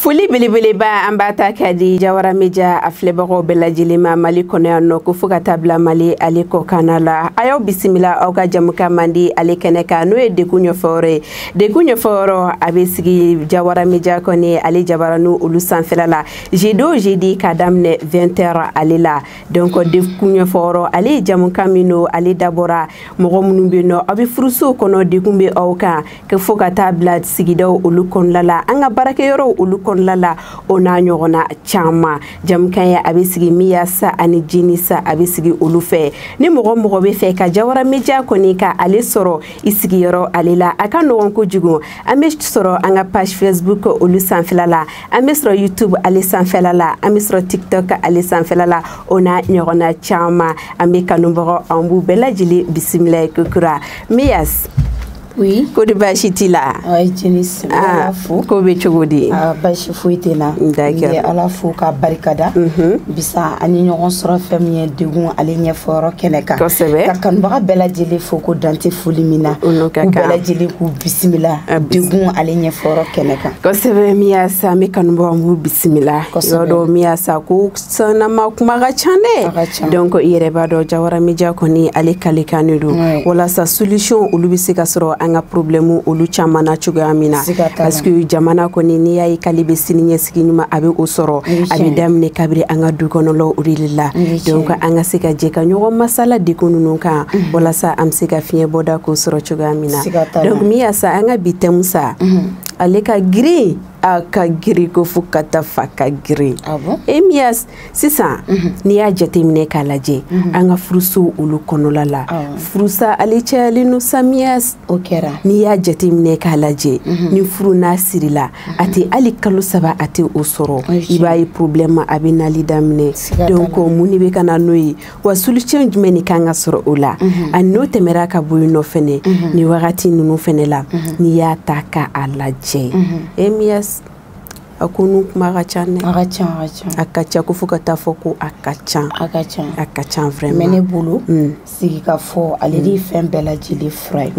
foli belebeleba an b'a ta k'a di jawara media a filɛbagaw bɛɛ lajɛlen ma mali kɔnɔ yan nɔ ko fo ka taa bila mali ale kɔkanna la a y'aw bisimila aw ka jamukan mandi ale kɛnɛ kan n'o ye degun ɲɛfɔyɔrɔ ye degun ɲɛfɔyɔrɔ a bɛ sigi jawara media kɔni ale jabaranin olu sanfɛla la jeudi o jeudi k'a daminɛ 20 heures ale la donc degun ɲɛfɔyɔrɔ ale ye jamukan min don ale dabɔra mɔgɔ minnu bɛ nɔ aw bɛ furusow kɔnɔ degun bɛ aw kan ko fo ka taa bila sigidaw olu kɔnɔla la an ka baarakɛyɔrɔw olu kɔnɔla la o n'a ɲɔgɔnna caman jamukan ye a bɛ sigi miyasa ani jenis a bɛ sigi olu fɛ ni mɔgɔ mɔgɔ b'a fɛ ka jawara media kɔni ka ale sɔrɔ i sigiyɔrɔ ale la a ka nɔgɔn kojugu an bɛ sɔrɔ an ka page facebook olu sanfɛla la an bɛ sɔrɔ youtube ale sanfɛla la an bɛ sɔrɔ tiktok ale sanfɛla la o n'a ɲɔgɔnna caman an bɛ kanubagaw an b'u bɛɛ lajɛlen bisimila ye kokura miyas oui ko de baasi t'i la ayi jenis n bɛ ala fo ko bɛ cogo di ah, baasi foyi tɛ n na n bɛ ala fo ka barikada mhm. bi sa an ye ɲɔgɔn sɔrɔ fɛn min ye degun ale ɲɛfɔyɔrɔ kɛnɛ kan kosɛbɛ ka kanubaga bɛɛ lajɛlen fo ko dan tɛ foli min na k'u bɛɛ lajɛlen k'u bisimila degun ale ɲɛfɔyɔrɔ kɛnɛ kan kosɛbɛ miyasa an bɛ kanubagaw an b'u bisimila yɔrɔ dɔ miyasa ko sanama kuma ka ca dɛ donc i yɛrɛ b'a dɔn jawara media kɔni ale kalekan de don walasa solution olu bɛ se ka sɔrɔ an ka problème olu caman na cogoya min na parce que jamana kɔni n'i y'a ye k'ale bɛ siniɲɛsigi ɲuman a bɛ o sɔrɔ a bɛ daminɛ kabiri an ka du kɔnɔlaw o de la donc an ka se ka jɛ ka ɲɔgɔn masala degun ninnu kan mhm. walasa an bɛ se ka fiɲɛ bɔda k'o sɔrɔ cogoya min na donc miyasa an ka bi thème sa mhm. ale ka girin a ka girin ko fo ka taa fɔ a ka girin ah e miyas sisan mhm. n'i y'a jateminɛ k'a lajɛ mhm. an ka furusow olu kɔnɔla la ah furusa ale cayalen no sa miyas o kɛra n'i y'a jateminɛ k'a lajɛ mhm. ni furu n'a sirila a tɛ hali kalo saba a tɛ o sɔrɔ i b'a ye problème a bɛ nali daminɛ donc mun de bɛ ka na n'o ye wa solution jumɛn de kan ka sɔrɔ o la mhm. ani n'o tɛmɛra ka bɔ yen nɔ fɛnɛ mhm. nin wagati ninnu fɛnɛ la mhm. n'i y'a ta ka a lajɛ e miyas a ko ninnu kuma ka ca dɛ a ka ca a ka ca a ka ca ko fo ka taa fɔ ko a ka ca a ka ca a ka ca vraiment mais ne bolo mm. sigi ka fɔ ale de ye mm. fɛn bɛɛ lajɛlen fura ye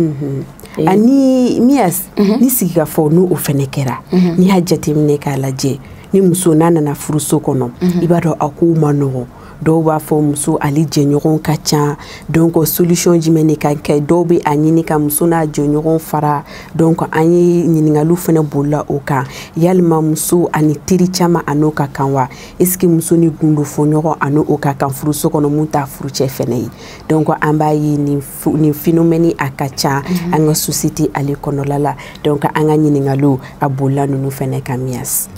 eh. ani miyas ni sigi ka fɔ n'o fɛnɛ kɛra n'i y'a jateminɛ k'a lajɛ ni muso n'a nana furuso kɔnɔ i b'a dɔn a kow man nɔgɔn dɔw b'a fɔ muso ale jɛɲɔgɔn ka ca donc solution jumɛn de ka kɛ dɔw bɛ a ɲini ka muso n'a jɛɲɔgɔn fara donc an ye ɲininkaliw fɛnɛ bolila o kan yalima muso ani teri caman a n'o ka kan wa est ce que muso ni gundo fɔ ɲɔgɔn a n'o ka kan furuso kɔnɔ min t'a furucɛ fɛnɛ ye donc an b'a ye nin nin phénomène a ka ca mhm. an ka société ale kɔnɔla la donc an ka ɲininkaliw a bolila ninnu fɛnɛ kan mias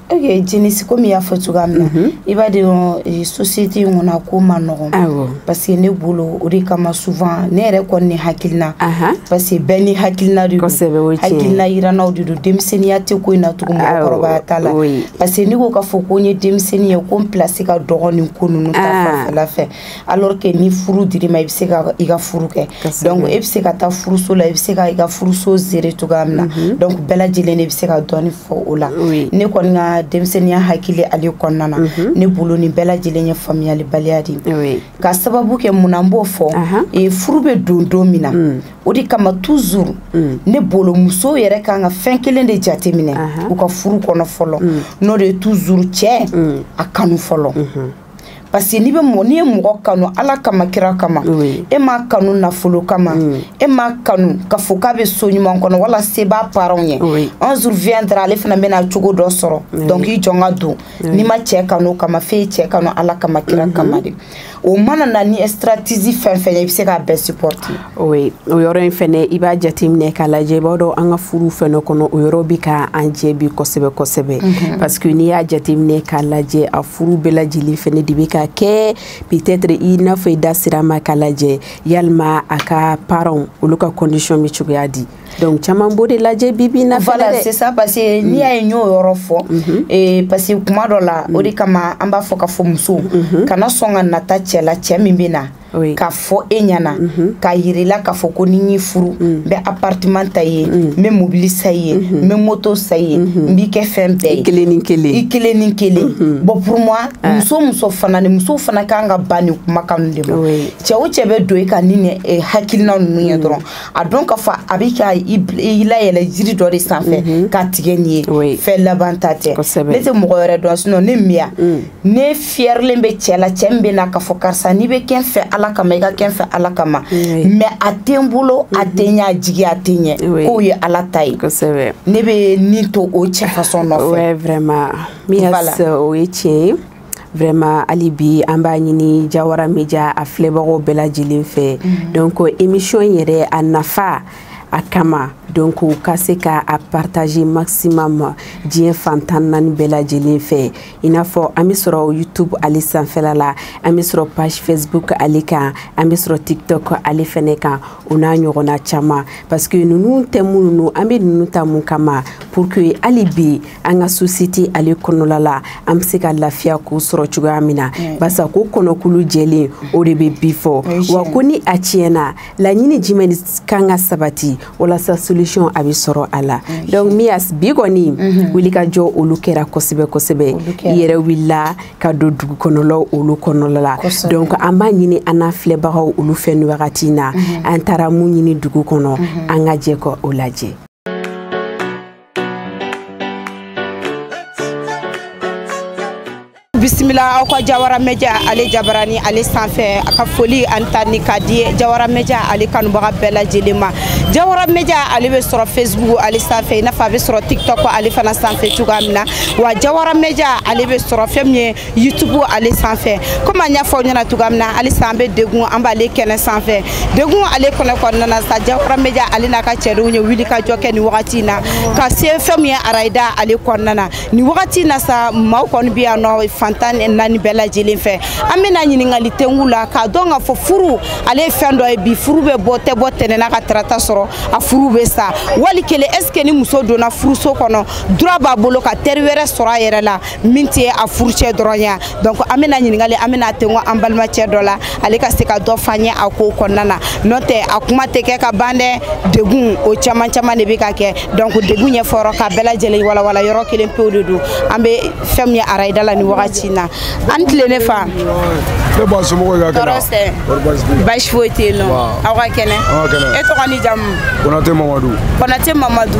ok jenisi komi i y'a fɔ cogoya min na mhm. i b'a dɔn eh, société in kɔnɔ a ko ma nɔgɔn parce que ne bolo o de kama souvent ne yɛrɛ kɔni ni hakilina parce que bɛɛ n'i hakilina de don hakilina yirannaw de don denmisɛnninya tɛ ko in na tugun mɔgɔkɔrɔbaya t'a la parce que ne ko k'a fɔ ko n ye denmisɛnnin ye ko n place ka dɔgɔn nin ko ninnu ta fanfɛla fɛ alors que ni furu dir'i ma i bɛ se ka i ka furu kɛ donc e bɛ se ka taa furuso la i bɛ se ka i ka furuso gérer cogoya min na mhm. donc bɛɛ lajɛlen de bɛ se ka dɔɔni fɔ o la ne kɔni ka denmisɛnninya hakili ale kɔnɔna na mhm. ne bolo nin bɛɛ lajɛlen ye faamuyalibaliya de ye ka sababu kɛ mun na n b'o fɔ e furu bɛ don don min na mm. o de kama toujours mm. ne bolo musow yɛrɛ kan ka fɛn kelen de jateminɛ u ka furu kɔnɔ fɔlɔ mm. n'o de ye toujours cɛ a kanu fɔlɔ mhm. parce que n'i bɛ mɔgɔ n'i ye mɔgɔ kanu ala kama kira kama e m'a kanu nafolo kama mm. e m'a kanu ka fɔ k'a bɛ so ɲuman kɔnɔ wala se b'a parents ye un jour viendra ale fana bɛna cogo dɔ sɔrɔ donc i jɔn k'a dɔn n'i ma cɛ kanu kama f'e ye cɛ kanu ala kama kira mm-hmm. kama de o mana na ni stratégie fɛn fɛn ye i bɛ se k'a bɛɛ supporter o ye o yɔrɔ in fɛnɛ i b'a jateminɛ k'a lajɛ i b'a dɔn an ka furuw fɛnɛ kɔnɔ o yɔrɔ bɛ ka an jɛ bi kosɛbɛ kosɛbɛ mhm. parce que n'i y'a jateminɛ k'a lajɛ a furu bɛɛ lajɛlen fɛnɛ de bɛ ka kɛ peut-être i n'a fɔ i da sira ma k'a lajɛ yalima a ka parents olu ka condition bɛ cogoya di donc caman b'o de lajɛ bi bi na fɛnɛ dɛ voilà c'est ça parce que n'i y'a ye n y'o yɔrɔ fɔ mhm. eh, parce que kuma dɔ la o de mhm. kama an b'a fɔ ka fɔ musow kana sɔn ka nata cɛ la cɛ min bɛ na oui. k'a fɔ e ɲɛna mm -hmm. k'a yir'i la k'a fɔ ko ni n y'i furu mm. n bɛ appartement ta i ye mm. n bɛ mobili san i ye mm-hmm. n bɛ moto san i ye n mm-hmm. b'i kɛ fɛn bɛɛ ye i kelen ni kelen i kelen ni kelen mm-hmm. bon pour moi ah. muso muso fana ni musow fana kan ka ban nin kumakan ninnu de ma cɛ o cɛ bɛ don i kan ni nin eh, hakilina ninnu ye mm. dɔrɔn a dɔn k'a fɔ a bɛ ka i layɛlɛ jiri dɔ de sanfɛ k'a tigɛ n'i ye fɛn labanta tɛ ne tɛ mɔgɔ wɛrɛ dɔn sinon ne mias ne fiyɛrilen bɛ cɛ la cɛ min bɛ na k'a fɔ karisa n'i bɛ kɛ n fɛ ala kama i ka kɛ n fɛ ala kama mais a tɛ n bolo a tɛ n y'a jigi a tɛ ɲɛ k'o ye ala ta ye ne bɛ ne to o cɛ façon nɔfɛ vraiment mias o ye tiɲɛ ye vraiment hali bi an b'a ɲini jawara media a filɛbagaw bɛɛ lajɛlen fɛ mhm. donc émission yɛrɛ a nafa a kama donc u ka se ka a partager maximum diɲɛ fan tan ni naani bɛɛ lajɛlen fɛ i n'a fɔ an bɛ sɔrɔ youtube ale sanfɛla la an bɛ sɔrɔ page facebook ale kan an bɛ sɔrɔ tiktok ale fɛnɛ kan o n'a ɲɔgɔnna caman parce que ninnu thème ninnu an bɛ ninnu ta mun kama pour que hali bi an ka société ale kɔnɔla la an bɛ se ka lafiya k'o sɔrɔ cogoya min na barisa ko kɔnɔkulu jɛlen o de bɛ bi fɔ wa ko ni a tiɲɛna laɲini jumɛn kan ka sabati walasa solution a bɛ sɔrɔ a la donc mias bi kɔni mhm. wulikajɔ olu kɛra kosɛbɛ kosɛbɛ i yɛrɛ wulila ka don dugu kɔnɔlaw olu kɔnɔla la donc an b'a ɲini an n'a filɛbagaw olu fɛ nin wagati in na mhm. an taara mun ɲini dugu kɔnɔ mhm. an ka jɛ ka o lajɛ bisimila aw ka jawara media ale jabarani ale sanfɛ a ka foli ani tanuni ka di jawara media ale kanubaga bɛɛ lajɛlen ma jawara media ale bɛ sɔrɔ facebook ale sanfɛ i n'a fɔ a bɛ sɔrɔ tiktok ale fana sanfɛ cogoya min na wa jawara media ale bɛ sɔrɔ fɛn min ye youtube ale sanfɛ komi an y'a fɔ aw ɲɛna cogoya min na halisa an bɛ degun an b'ale kɛnɛ sanfɛ degun ale kɔnɔ kɔnɔna na sa jawara media ale n'a ka cɛdenw ye wulikajɔ kɛ nin wagati in na ka se fɛn min ye arayida ale kɔnɔna na nin wagati in na sa maaw kɔni bɛ yan nɔ fan tan ni naani bɛɛ lajɛlen fɛ an bɛna ɲininkali tengu la k'a dɔn k'a fɔ furu ale ye fɛn dɔ ye bi furu bɛ bɔ tɛ bɔ tɛnɛn na ka tarata sɔrɔ a furu bɛ sa wali kelen est ce que ni muso donna furuso kɔnɔ droit b'a bolo ka teri wɛrɛ sɔrɔ a yɛrɛ la min tɛ a furucɛ dɔrɔn ye donc an bɛna ɲininkali an bɛna tengo an balimacɛ dɔ la ale ka se ka dɔ f'an ye a ko kɔnɔna na n'o tɛ a kuma tɛ kɛ ka ban dɛ degun o caman caman de bɛ ka kɛ donc degun ɲɛfɔyɔrɔ ka bɛɛ lajɛlen walawala yɔrɔ kelen pewu de don an bɛ fɛn min ye arayida la nin wagati na a ni tile ne fa nba somɔgɔw ka kɛnɛ tɔɔrɔ tɛ baasi foyi tɛ yen nɔ aw ka kɛnɛ e tɔgɔ ni jamu kɔnate mamadu kɔnate mamadu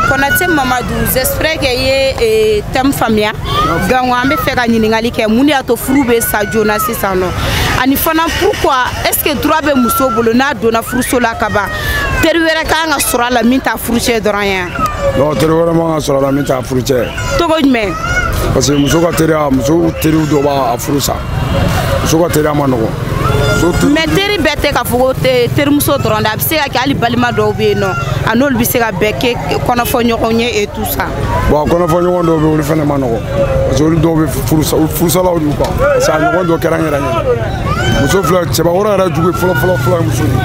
kɔnate mamadu J'espère que i ye thème faamuya donc an bɛ fɛ ka ɲininkali kɛ mun de y'a to furu bɛ sa joona sisan nɔ ani fana pourquoi est ce que droit bɛ muso bolo n'a donna furuso la ka ban teri wɛrɛ ka kan ka sɔrɔ a la min t'a furucɛ dɔrɔn ye non teri wɛrɛ man kan ka sɔrɔ a la min t'a furucɛ cogo jumɛn parce que muso ka teriya muso teriw dɔ b'a furu sa muso ka teriya man nɔgɔ mais teri bɛɛ tɛ k'a fɔ ko terimuso dɔrɔn de a bɛ se ka kɛ hali balima dɔw bɛ yen nɔ a n'olu bɛ se ka bɛɛ kɛ kɔnɔfɔ ɲɔgɔn ye et tout ça bon kɔnɔfɔ ɲɔgɔn dɔw bɛ olu fana man nɔgɔ parce que olu dɔw bɛ furusalaw y'u kan parce que a ɲɔgɔn dɔ kɛra n yɛrɛ ɲɛ muso filɛ cɛbakɔrɔ yɛrɛ jugu fɔlɔ fɔlɔ fɔlɔ ye muso de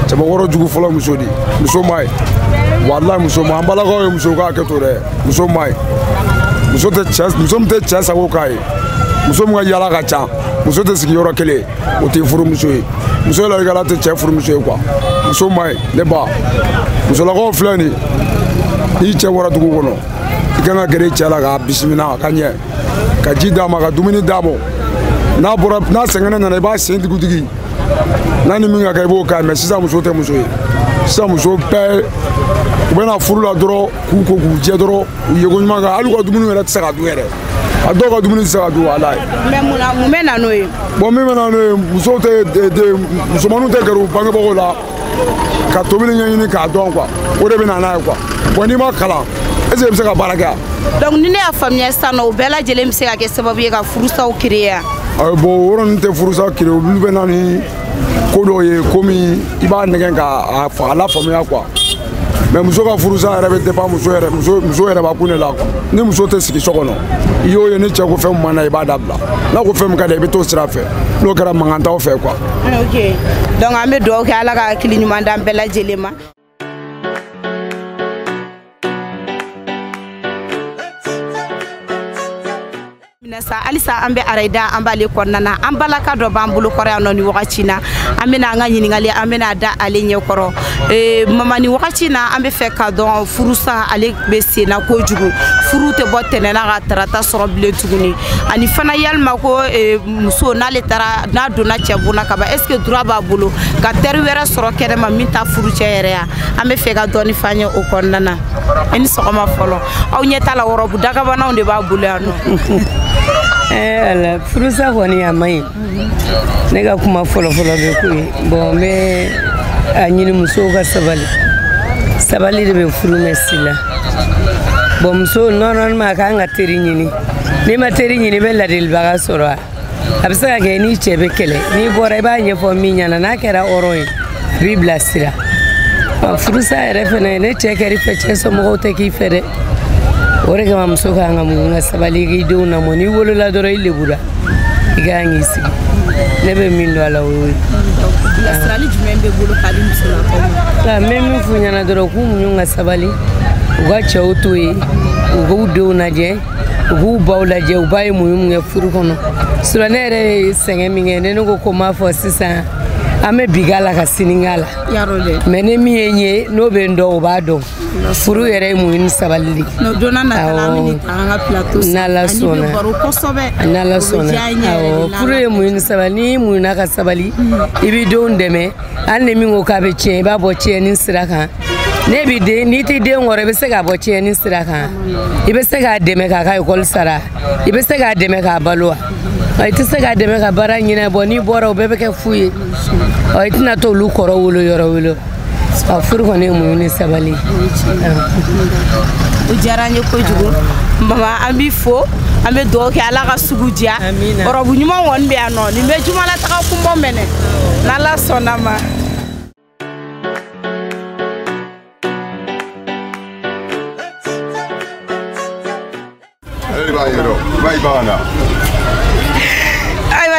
cɛbakɔrɔ jugu fɔlɔ muso de muso man ɲi walayi muso ma an balakaw ye muso k'a kɛ to dɛ muso man ɲi muso tɛ cɛ muso min tɛ cɛ sago k'a ye muso min ka yala ka ca muso tɛ sigi yɔrɔ kelen o tɛ furumuso ye muso ladikala tɛ cɛ furumuso ye quoi muso ma ye ne ba musolakaw filɛ nin n'i cɛ bɔra dugu kɔnɔ i kan ka gɛrɛ i cɛ la k'a bisimila ka ɲɛ ka ji d'a ma ka dumuni d'a ma n'a bɔra n'a sɛgɛnnen nana i b'a sen digidigi n'a ni min ka kɛ i b'o k'a ye mais sisan muso tɛ muso ye sisan muso bɛɛ u bɛna furu la dɔrɔn k'u ko k'u jɛ dɔrɔn u yeko ɲuman kan hali u ka dumuni yɛrɛ tɛ se ka dun yɛrɛ a dɔw ka dumuni tɛ se ka dun walayi. mais mun na mun bɛ na n'o ye. bon min bɛ na n'o ye muso musomaninw tɛ gɛrɛ u bangebagaw la ka tobili ɲɛɲini k'a dɔn quoi o de bɛ na n'a ye quoi bon n'i ma kalan est ce que i bɛ se ka baara kɛ yan. donc ni ne y'a faamuya sisan nɔ o bɛɛ lajɛlen bɛ se ka kɛ sababu ye ka furusaw créer. ayi bon o yɔrɔ ninnu tɛ furusa créer olu bɛ na ni ko dɔw ye komi i b'a nɛgɛn k'a a lafaamuya quoi. mais muso ka furusa yɛrɛ bɛ dépend muso yɛrɛ b'a kun de la quoi ni muso tɛ sigi so kɔnɔ i y'o ye ni cɛ ko fɛn min man d'a ye i b'a dabila n'a ko fɛn min ka d'a ye i bɛ t'o sira fɛ n'o kɛra mankan t'aw fɛ quoi. ok donc an bɛ dugawu kɛ ala ka hakili ɲuman d'an bɛɛ lajɛlen ma. amiina sa halisa an bɛ arayida an b'ale kɔnɔna na an balaka dɔ b'an bolo kɔrɔ yan nɔ ni wagati na an bɛna an ka ɲininkali an bɛna da ale ɲɛ kɔrɔ ee, mama ni wagati na an bɛ fɛ ka dɔn furusa ale bɛ senna kojugu furu tɛ bɔ tɛnɛn na ka tarata sɔrɔ bilen tuguni ani fana yalima ko ee, muso n'ale taara n'a donna cɛ bon na kaban est ce que droit b'a bolo ka teri wɛrɛ sɔrɔ kɛnɛma min t'a furucɛ yɛrɛ ye an bɛ fɛ ka dɔɔni f'an ye o kɔnɔna na i ni sɔgɔma fɔlɔ aw ɲɛ t'a la wɔrɔbu dagabanaw de b'a bolo yan nɔ eh, walayi furusa kɔni a man ɲi ne ka kuma fɔlɔfɔlɔ bɛ k'o ye bon n bɛ a ɲini musow ka sabali sabali de bɛ furu mɛn si la bon muso normalement ka kan ka teri ɲini n'i ma teri ɲini i bɛ ladilibaga sɔrɔ wa a bɛ se ka kɛ n'i cɛ bɛ kɛlɛ n'i bɔra i b'a ɲɛfɔ min ɲɛna n'a kɛra hɔrɔn ye a b'i bilasira furusa yɛrɛ fɛnɛ ni cɛ kɛr'i fɛ cɛ somɔgɔw tɛ k'i fɛ dɛ o de kama muso ka kan ka muɲu ka sabali k'i denw lamɔ n'i wolola dɔrɔn i lebura i ka kan k'i sigi ne bɛ min dɔn a la o y'o ye bilasirali jumɛn b'i bolo ka di musolakaw ma n bɛ min f'u ɲɛna dɔrɔn k'u muɲu ka sabali u ka cɛw to yen u k'u denw lajɛ u k'u baw lajɛ u ba ye muɲu min kɛ furu kɔnɔ sinon ne yɛrɛ ye sɛgɛn min kɛ ne ne ko ko m'a fɔ sisan an bɛ bi k'a la ka sini k'a la mais ni min ye n ye n'o bɛ n dɔn o b'a dɔn furu yɛrɛ ye muɲu ni sabali de n'ala sɔnna n'ala sɔnna furu ye muɲu ni sabali n'i muɲuna ka sabali i bɛ denw dɛmɛ hali ni min ko k'a bɛ tiɲɛ i b'a bɔ tiɲɛni sira kan n'i b'i den n'i t'i den kɔrɔ i bɛ se k'a bɔ tiɲɛni sira kan i bɛ se k'a dɛmɛ k'a ka ekɔli sara i bɛ se k'a dɛmɛ k'a balo wa i tɛ se k'a dɛmɛ ka baara ɲin'a bolo n'i bɔra o bɛɛ bɛ kɛ fu ye i tɛna to olu kɔrɔ wolo yɔrɔ wolo a furu kɔni ye muɲu ni sabali o diyara n ye kojugu mama an b'i fo an bɛ dugawu kɛ ala ka sugu diya ɔrɔbu ɲuman kɔni bɛ yan nɔ nin bɛ jumalataga kunbɔ mɛnɛ n'ala sɔnna ma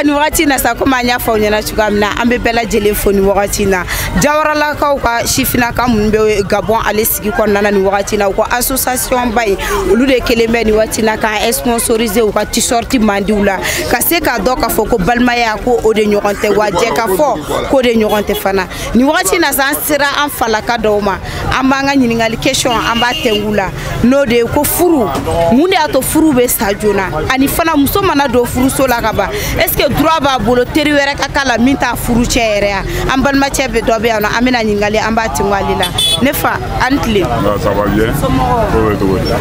nin wagati na sa komi an y'a fɔ aw ɲɛna cogoya min na an bɛ bɛɛ lajɛlen fo nin wagati na jawaralakaw ka sifinaka minnu bɛ gabɔn ale sigi kɔnɔna na nin wagati la u ka association ba in olu de kelen bɛ nin wagati la k'an sponsoriser u ka t-shirt mandiw la ka se k'a dɔn k'a fɔ ko balimaya ko o de ɲɔgɔn tɛ wa jɛkafɔ k'o de ɲɔgɔn tɛ fana nin wagati na sa an sera an falaka dɔw ma an b'an ka ɲininkali question an b'a tɛngu la n'o de ye ko furu mun de y'a to furu bɛ sa joona ani fana muso mana don furuso la ka ban est ce que droit b'a bolo teri wɛrɛ ka k'a la min t'a furucɛ yɛrɛ ye an balimacɛ bɛ dɔ bɛ yan nɔ an bɛna ɲininkali an b'a tingo ale la ne fa a ni tile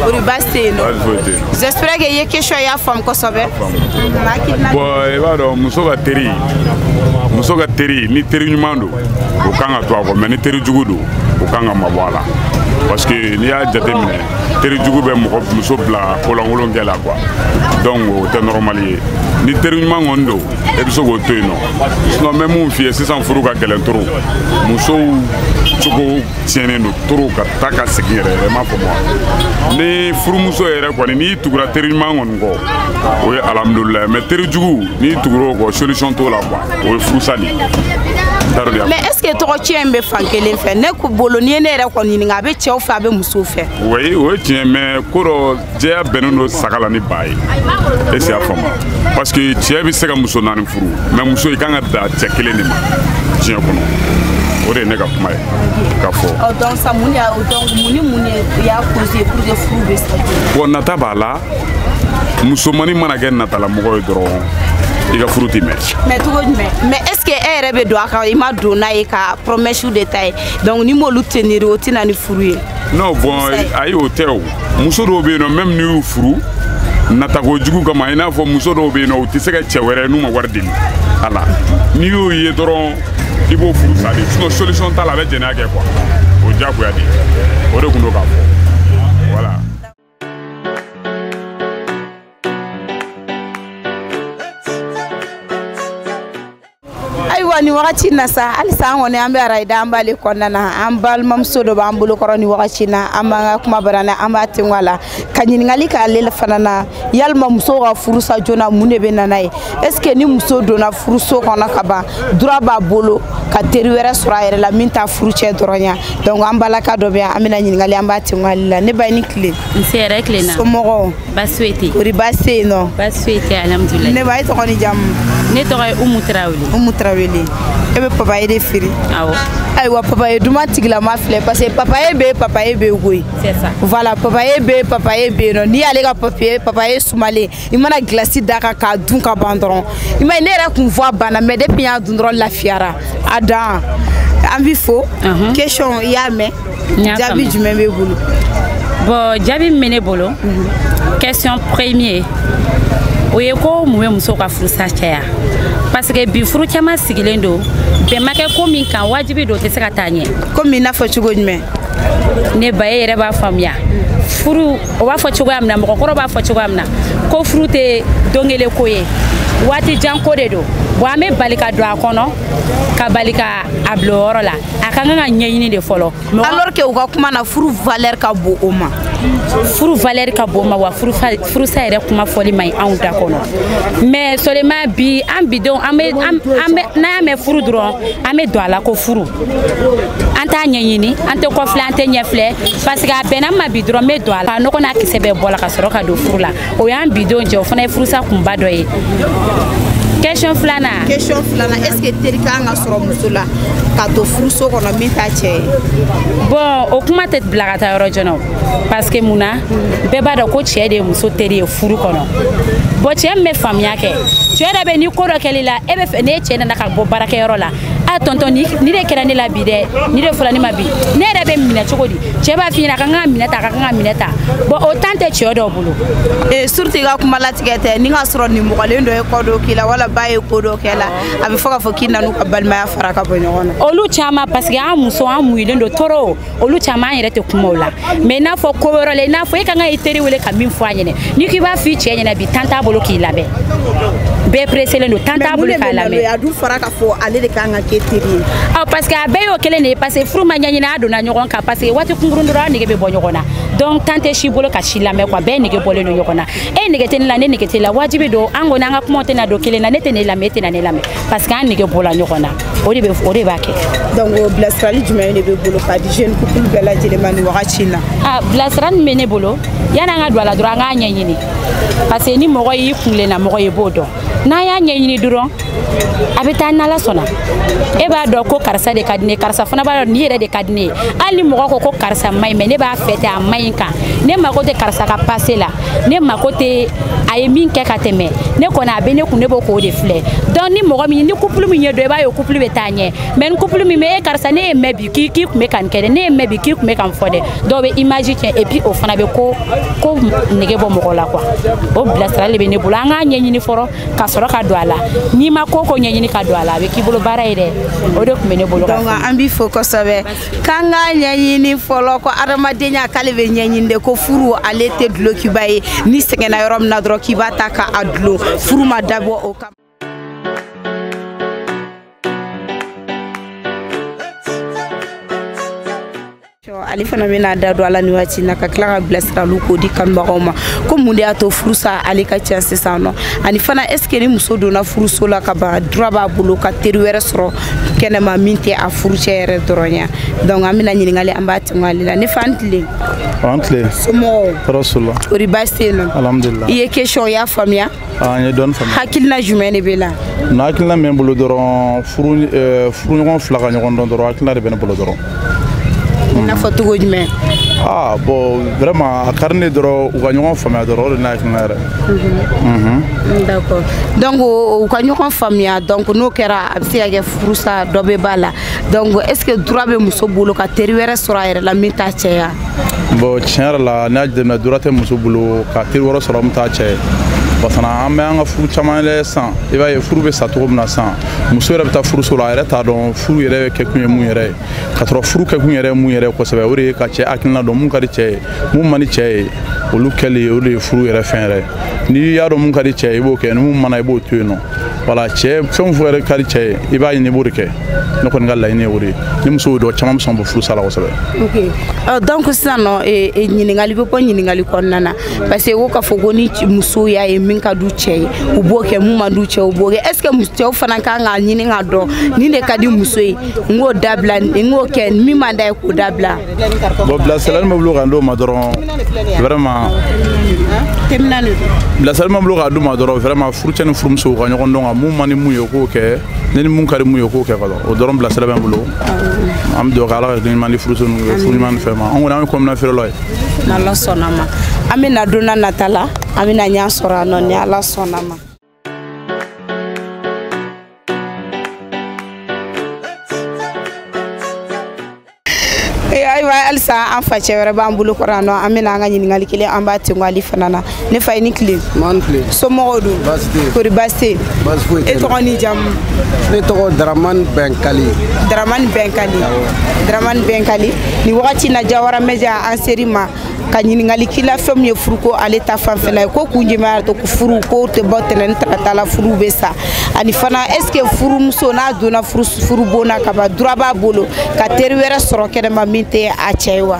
kori baasi tɛ yen nɔ j'espère que i ye question y'a faamu kosɛbɛ bon i b'a dɔn muso ka teri muso ka teri ni teri ɲuman don o kan ka to a kɔ mais ni teri jugu don o kan ka mabɔ a la parce que n'i y'a jateminɛ teri jugu bɛ mɔgɔ muso bila kolankolon kɛ la quoi donc o tɛ normal ye ni teri ɲuman kɔni don e bɛ se k'o to yen nɔ sinon n bɛ mun f'i ye sisan furu ka gɛlɛn toro musow cogo tiɲɛnen don toro ka taa ka segin yɛrɛ ma pour moi ni furumuso yɛrɛ kɔni n'i tugura teri ɲuman kɔni kɔ o ye alhamdulilayi mais teri jugu n'i tugura o kɔ solution t'o la quoi o ye furusa de mais est ce que tɔgɔ tiɲɛ in bɛ fan kelen fɛ ne bolo n'i ye ne yɛrɛ kɔni ɲininka a bɛ cɛw fɛ a bɛ musow fɛ o ye tiɲɛ mais ko dɔ jɛya bɛnnen don saga la ni ba ye est ce i y'a faamu parce que cɛ bɛ se ka muso naani furu mais muso i kan ka da cɛ kelen de ma diɲɛ kɔnɔ o de ye ne ka kuma ye ka fɔ bon nata b'a la musomani mana kɛ natalamɔgɔ ye dɔrɔn i ka furu tɛ mɛn mais est ce que e yɛrɛ b'a dɔn a ka i m'a dɔn n'a ye ka promɛsiw de ta ye donc n'i m'olu tenir o tɛ na ni furu ye non bon ayi o tɛ o muso dɔw bɛ yen nɔ même n'u y'u furu natako jugu kama i n'a fɔ muso dɔw bɛ yen nɔ u tɛ se ka cɛ wɛrɛ n'u ma wari deli a la n'i y'o ye dɔrɔn i b'o furu sa de sinon solution t'a la a bɛ jɛnɛya kɛ quoi o diyagoya de o de kun don k'a fɔ. ayiwa nin wagati na sa halisa an kɔni an bɛ arayida an b'ale kɔnɔna na an balimamuso dɔ b'an bolokɔrɔ nin wagati na an b'an ka kuma bara na an b'a tengu a la ka ɲininkali k'ale fana na yalima muso ka furusa joona mun de bɛ na n'a ye est ce que ni muso donna furuso kɔnɔ ka ban droit b'a bolo ka teri wɛrɛ sɔrɔ a yɛrɛ la min t'a furucɛ dɔrɔn ya donc an balaka dɔ bɛ yan an bɛna ɲininkali an b'a tengu ale la ne ba i ni tile nse hɛrɛ tilenna somɔgɔw basi foyi kori basi tɛ yen nɔ basi foyi tɛ alhamdulilayi ne ba e tɔgɔ ni jamu ne tɔgɔ ye umu tarawele umu tarawele e bɛ papaye de feere awɔ ayiwa papaye duman tigilama filɛ parce que papaye bɛ papaye bɛ koyi voilà papaye bɛ papaye bɛ yen nɔ n'i y'ale ka papaye sumalen i mana gilasi da kan k'a dun ka ban dɔrɔn i m'a ye ne yɛrɛ kun voix banna mais depuis n y'a dun dɔrɔn lafiyara a dan an b'i fo question i y'a mɛn jaabi jumɛn b'e bolo bon jaabi min bɛ ne bolo mhm. question premier o ye ko mun bɛ muso ka furusa caya parce que bi furu caman sigilen don bɛn ma kɛ ko min kan wajibi don o tɛ se ka taa ɲɛ komi i n'a fɔ cogo jumɛn ne ba e yɛrɛ b'a faamuya furu o b'a fɔ cogoya min na mɔgɔkɔrɔ b'a fɔ cogoya min na ko furu tɛ don kelen ko ye waati jan ko de don bon an bɛ bali ka don a kɔnɔ ka bali ka a bila o yɔrɔ la a ka kan ka ɲɛɲini de fɔlɔ alors que u ka kuma na furu valeur ka bon o ma furu valeur ka bon o ma wa furusa yɛrɛ kuma fɔli man ɲi anw da kɔnɔ mais seulement bi an bidenw an bɛ an bɛ n'an y'a mɛn furu dɔrɔn an bɛ don a la ko furu an t'a ɲɛɲini an tɛ kɔfilɛ an tɛ ɲɛfilɛ parce que a bɛnna n ma bi dɔrɔn n bɛ don a la nɔgɔ n'a kisɛ bɛɛ bɔ a la ka sɔrɔ ka don furu la o y'an bidenw jɛ o fana ye furusa kunba dɔ ye question filanan question filanan est ce que teri ka kan ka sɔrɔ muso la ka to furuso kɔnɔ min t'a cɛ ye bon o kuma tɛ bila ka taa yɔrɔ jan na o parce que mun na bɛɛ b'a dɔn ko cɛ de ye muso teri ye furu kɔnɔ bon cɛ min bɛ faamuya kɛ cɛ dɔ bɛ ni ko dɔ kɛl'i la e b'a fɛ n'e cɛ nana ka bɔ baarakɛyɔrɔ la a tɔntɔn nin de kɛra ne la bi dɛ nin de fɔla ne ma bi ne yɛrɛ b'a minɛ cogo di cɛ b'a f'i ɲɛna i ka kan k'a minɛ tan i ka kan k'a minɛ tan bon o temps tɛ cɛ dɔw bolo surtout i ka kuma latigɛ tɛ n'i k'a sɔrɔ nimɔgɔlen dɔ ye ko dɔ k'i la wala ba ye ko dɔ k'i la a b'a fɔ k'a fɔ k'i nan'u ka balimaya fara ka bɔ ɲɔgɔn na olu caman parce que an musow an muɲulen don trop olu caman yɛrɛ tɛ kumaw lamɛn n'a fɔ ko wɛrɛ la i n'a fɔ e ka kan ka i teri wele ka min fɔ a ɲɛna n'i k'i b'a f'i cɛ ɲɛna bi temps t'a bolo k'i lamɛn bɛɛ preselen don temps t'a bolo k'a lamɛn a dun fɔra k'a fɔ ale de ka kan ka kɛ i teri ye ɔ parce que a bɛɛ y'o kelen de ye parce que furu ma ɲɛɲini a donna ɲɔgɔn kan parce que waati kunkurun dɔrɔn a nege bɛ bɔ ɲɔgɔn na donc temps tɛ si bolo ka si lamɛn quoi bɛɛ nege bɔlen don ɲɔgɔn na e nege tɛ ne la ne nege t'e la wajibi don an kɔni an ka kumaw tɛna don kelen na ne tɛn'e lamɛn e tɛna ne lamɛn parce que an nege bɔla ɲɔgɔn na o de b'a kɛ. donc bilasirali jumɛn de b'i bolo k'a di jeune couple bɛɛ lajɛlen ma nin wagati in na. a bilasirali min bɛ ne bolo yanni an ka don a la dɔrɔn an k'a ɲɛɲini parce que ni mɔgɔ y'i kunlenna mɔgɔ ye i b'o dɔn n'an y'a ɲɛɲini dɔrɔn a bɛ taa n'ala sɔnna e b'a dɔn ko karisa de ka di ne karisa fana b'a dɔn nin yɛrɛ de ka di ne ye hali ni mɔgɔ ko ko karisa man ɲi mais ne b'a fɛ ten a man ɲi kan ne mako tɛ karisa ka passé la. ne mako tɛ a ye min kɛ ka tɛmɛ ne kɔni a bɛ ne kun ne b'o ko de filɛ donc ni mɔgɔ min ni couple min y'o dɔn i b'a ye o couple bɛ taa ɲɛ mais ni couple min bɛ e karisa ne y'a mɛn bi k'i k'i kun bɛ ka nin kɛ dɛ ne y'a mɛn bi k'i kun bɛ ka nin fɔ dɛ donc o bɛ image tiɲɛ et puis o fana bɛ ko nege bɔ mɔgɔ la quoi o bilasirali de bɛ ne bolo an k'a ɲɛɲini fɔlɔ ka sɔrɔ ka don a la n'i ma ko o ko ɲɛɲini ka don a la a bɛ k'i bolo baara ye dɛ o de kun bɛ ne bolo donc an b'i fo kosɛbɛ k'an k'a ɲɛɲini fɔlɔ ko adamadenya k'ale bɛ ɲɛɲini de ko furu ale tɛ dulokiba ye n'i sɛgɛnna yɔrɔ min na dɔrɔn k'i b'a ta k'a dulon furu ma dabɔ o kama ale fana bɛna a da don a la nin waati na ka tila ka bilasiraliw k'o di kanubagaw ma ko mun de y'a to furusa ale ka ca sisan nɔ ani fana est ce que ni muso donna furuso la ka ban droit b'a bolo ka teri wɛrɛ sɔrɔ kɛnɛma min tɛ a furucɛ yɛrɛ dɔrɔn ya donc an bɛna ɲininkali an b'a tɛmɛ ale la ne fa a ni tile a ni tile somɔgɔw tɔɔrɔ si t'u la kori baasi tɛ yen nɔ alhamdulilah i ye question y'a faamuya n ye dɔɔni faamuya hakilina jumɛn de b'e la na hakilina min bɛ n bolo dɔrɔn furu furuɲɔgɔn fila ka ɲɔgɔn dɔn dɔrɔn hakilina de bɛ n bolo dɔrɔn i n'a fɔ cogo jumɛn ah bon vraiment a ka di ne dɔrɔn u ka ɲɔgɔn faamuya dɔrɔn o de ne hakilina yɛrɛ mhm. d'accord donc u ka ɲɔgɔn faamuya donc n'o kɛra a bɛ se ka kɛ furusa dɔ bɛ b'a la donc est ce que droit bɛ muso bolo ka teri wɛrɛ sɔrɔ a yɛrɛ la min t'a cɛ ya bon tiɲɛ yɛrɛ la n'i y'a jateminɛ droit tɛ muso bolo ka teri wɛrɛ sɔrɔ min t'a cɛ ye parce que an bɛ an ka furu caman lajɛ san i b'a ye furu bɛ sa cogo min na san muso yɛrɛ bɛ taa furuso la a yɛrɛ t'a dɔn furu yɛrɛ kɛkun ye mun yɛrɛ ye ka sɔrɔ furu kɛkun yɛrɛ ye mun yɛrɛ ye kosɛbɛ o de ye ka cɛ hakilina dɔn mun ka di cɛ ye mun man di cɛ ye olu kɛli o de ye furu yɛrɛ fɛn yɛrɛ n'i y'a dɔn mun ka di cɛ ye i b'o kɛ ni mun man di i b'o to yen nɔ wala cɛ fɛn fɛn yɛrɛ ka di cɛ ye i b'a ɲini i b'o de kɛ ne kɔni ka laɲini ye o de ye ni muso y'o dɔn caman bɛ sɔn ka bɔ furusa la kosɛbɛ donc sisan nɔ ɲininkali bɛ bɔ ɲininkali kɔnɔna na parce que ko k'a fɔ ko ni musow y'a ye min ka d'u cɛ ye u b'o kɛ mun man d'u cɛ u b'o kɛ est ce que cɛw fana kan k'a ɲini k'a dɔn nin de ka di muso ye n k'o dabila n k'o kɛ min man d'a ye k'o dabila. bon bilasirali min bɛ n bolo ka d'o ma dɔrɔn vraiment. bilasirali min bɛ n bolo ka d'u ma dɔrɔn vraiment furucɛ ni furumusow ka ɲɔgɔn dɔn ka mun man di mun ye o k'o kɛ ne ni mun ka di mun ye o k'o kɛ fɔlɔ o dɔrɔn bilasirali bɛ n bolo an bɛ dugawu kɛ ala ka ɲuman di furuso ninnu furu ɲuman ni fɛn ma an kɔni an ye kɔmi na feerelaw ye. n'ala sɔnna ma an bɛ na donna nata la an bɛna ɲɛ sɔrɔ yan nɔ ni ala sɔnna ma ayiwa halisa an facɛ wɛrɛ b'an bolo kɔrɔ yan nɔ an bɛna an ka ɲininkali kelen an b'a tengo ale fana na ne fa i ni tile somɔgɔw dun kori baasi tɛ yen e tɔgɔ ni jamu ne tɔgɔ daramani bɛnkali daramani bɛnkali daramani bɛnkali nin wagati na jawara media an ser'i ma ka ɲininkali k'i la fɛn min ye furu ko ale ta fanfɛla ye ko kun jumɛn y'a to ko furu ko tɛ bɔ tɛnɛn ni tarata la furu bɛ sa ani fana est ce que furumuso n'a donna furu bon na ka ban droit b'a bolo ka teri wɛrɛ sɔrɔ kɛnɛma min tɛ a cɛ ye wa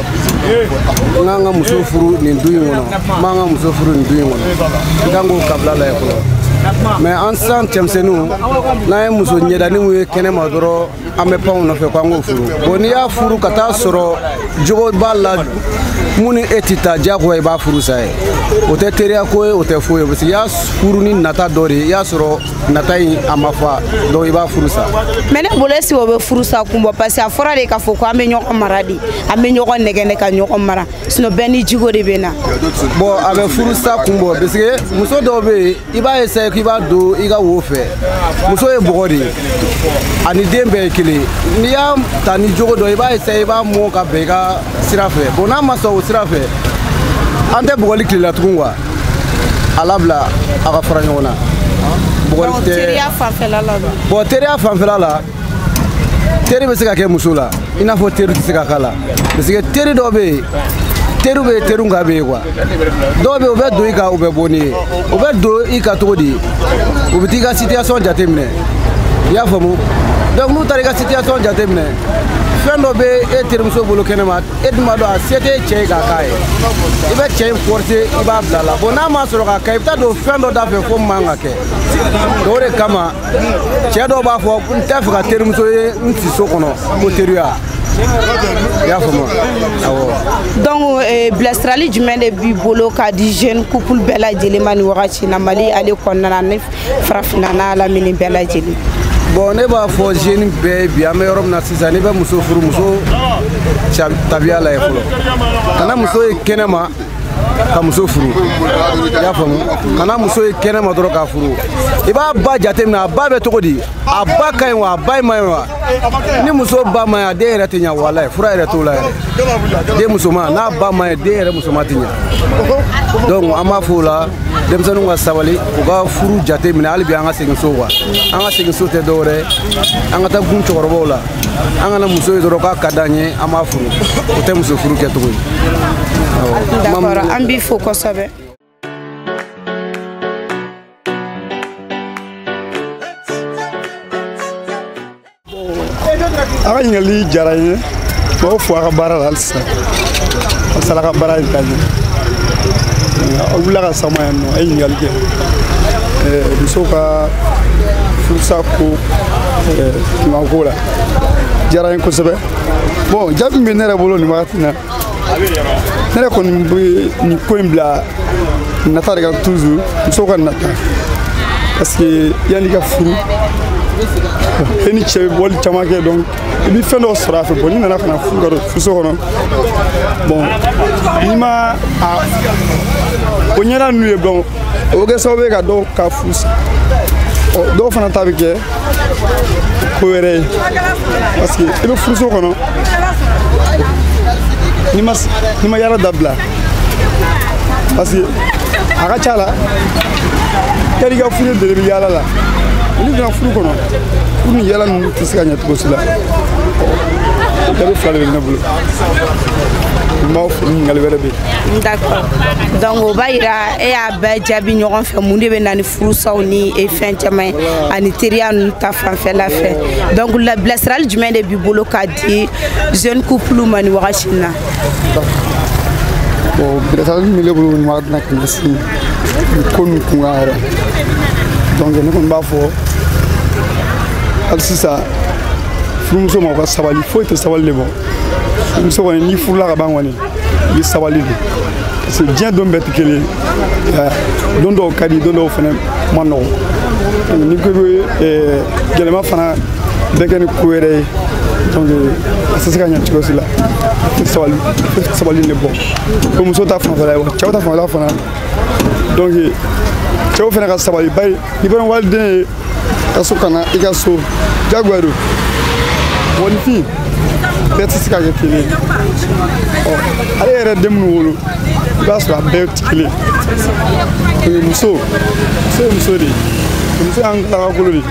n kan ka muso furu nin du in kɔnɔ n man ka muso furu nin du in kɔnɔ i kan k'o kabila lajɛ fɔlɔ mais an sisan cɛmisɛnninw n'an ye muso ɲɛdaniw ye kɛnɛ ma dɔrɔn an bɛ pan o nɔfɛ ko an k'o furu bon n'i y'a furu ka taa sɔrɔ jogo b'a la mun ni e tɛ taa diyagoya i b'a furu sa ye o tɛ teriya ko ye o tɛ foyi ye parce que i y'a furu ni nata dɔ de ye i y'a sɔrɔ nata in a ma fa donc i b'a furu sa mais ne bolo est ce o bɛ furusa kun bɔ parce que a fɔra de k'a fɔ ko an bɛ ɲɔgɔn mara de an bɛ ɲɔgɔn nɛgɛn ka ɲɔgɔn mara sinon bɛɛ ni jogo de bɛ na bon a bɛ furusa kun bɔ parce que muso dɔw bɛ yen i b'a essaye k'i b'a don i ka wo fɛ muso ye bɔgɔ de ye ani den bɛɛ ye kelen n'i y'a ta ni jogo dɔ i b'a essaye i b'a mɔ ka bɛn i ka sira fɛ bon n'a ma sɔn o sira fɛ an tɛ bugɔli tile la tugun quoi a labila a ka fara ɲɔgɔn na bugɔli tɛ teriya fanfɛla la bon teriya fanfɛla la teri bɛ se ka kɛ muso la i n'a fɔ teri tɛ se ka k'a la parce que teri dɔ bɛ yen teriw bɛ teriw ka bɛ yen quoi dɔw bɛ yen u bɛ don i kan u bɛ bɔ n'i ye u bɛ don i kan cogo di u bɛ t'i ka situation jateminɛ i y'a faamu donc n'u taara i ka situation jateminɛ fɛn dɔ bɛ e terimuso bolo kɛnɛma e dun b'a dɔn a se t'e cɛ ye k'a k'a ye i bɛ cɛ in forcer i b'a bila la bon n'a ma sɔrɔ k'a kɛ i bɛ taa don fɛn dɔ da fɛ ko man ka kɛ o de kama cɛ dɔw b'a fɔ n t'a fɛ ka terimuso ye n siso kɔnɔ ko teriya i y'a faamu awɔ donc eh, bilasirali jumɛn de b'i bolo k'a di jeune couple bɛɛ lajɛlen ma nin wagati na mali ale kɔnɔna na farafinna n'a lamini bɛɛ lajɛlen bon ne b'a fɔ jeune bɛɛ bi an bɛ yɔrɔ min na sisan n'i bɛ muso furu muso tabiya lajɛ fɔlɔ kana muso ye kɛnɛ ma ka muso furu i y'a faamu kana muso ye kɛnɛ ma dɔrɔn k'a furu i b'a ba jateminɛ a ba bɛ cogo di a ba ka ɲi wa a ba ma ɲi wa ni muso ba ma ɲi a den yɛrɛ tɛ ɲa walayi fura yɛrɛ t'o la yɛrɛ den musoman n'a ba ma ɲi den yɛrɛ musoman tɛ ɲa donc an b'a fɔ o la denmisɛnninw ka sabali u ka furu jate minɛ hali bi an ka segin so quoi an ka segin so tɛ dɔwɛrɛ an ka taa gun cɛkɔrɔbaw la an kana muso ye dɔrɔn k'a ka d'an ye an b'a furu o tɛ muso furu kɛcogo ye an b'i fo kosɛbɛ a ka ɲininkali diyara n ye n b'aw fo a ka baara la hali sisan a sala ka baara in ka ɲɛ aw wulila ka sama yan nɔ a ye ɲininkali kɛ musow ka furusa ko kunkanko la diyara n ye kosɛbɛ bon jaabi min bɛ ne yɛrɛ bolo nin wagati na ne yɛrɛ kɔni bɛ nin ko in bila nata de kan toujours musow ka nata parce que yanni i ka furu e ni cɛ bɛ bɔli caman kɛ donc i bɛ fɛn dɔw sɔrɔ a fɛ bon n'i nana ka na furu ka don furuso kɔnɔ bon n'i ma a o ɲɔgɔnna ninnu ye donc o bɛ kɛ sababu ye ka dɔw ka furu sa dɔw fana ta bɛ kɛ ko wɛrɛ ye parce que i bɛ furuso kɔnɔ n'i ma n'i ma yala dabila parce que a ka ca la yanni i ka furu deli bɛ yala la n'i donna furu kɔnɔ furu ni yala ninnu tɛ se ka ɲɛ cogo si la o jaabi fila de bɛ ne bolo n b'aw fo ɲininkali wɛrɛ bɛ yen d'accord donc o b'a yira e y'a bɛɛ jaabi ɲɔgɔn fɛ mun de bɛ na ni furusaw ni e fɛn caman ye ani teriya ninnu ta fanfɛla fɛ donc bilasirali jumɛn de b'i bolo k'a di jeune couple ma nin wagati in na bon bilasirali min bɛ ne bolo nin wagati na ka ɲɛsin nin ko ninnu kunkan yɛrɛ donc ne kɔni b'a fɔ hali sisan furumuso ma u ka sabali foyi tɛ sabali de bɔ furumuso kɔni n'i furula ka ban kɔni i sabali dɛ parce que diɲɛ don bɛɛ tɛ kelen ye don dɔw ka di don dɔw fana ma nɔgɔ ni ko bɛ gɛlɛma fana bɛɛ kɛ ni ko wɛrɛ ye donc a tɛ se ka ɲɛ cogo si la sabali sabali de bɔ ko muso ta fanfɛla ye wa cɛw ta fanfɛla fana donc cɛw fana ka sabali bari ni bɔra waliden ye ka so ka na i ka so jagoya don mɔgɔninfin bɛɛ tɛ se ka kɛ kelen ye ɔ hali i yɛrɛ den minnu wolo i b'a sɔrɔ a bɛɛ tɛ kelen ye o muso muso ye muso de ye muso y'an galakakolo de ye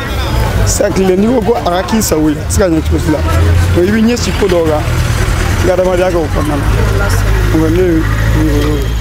sisan tile n'i ko ko a ka k'i sago ye a tɛ se ka ɲɛ cogo si la o i bɛ ɲɛsin ko dɔw kan i ka adamadenya kɛ o kɔnɔna na o ye ne ye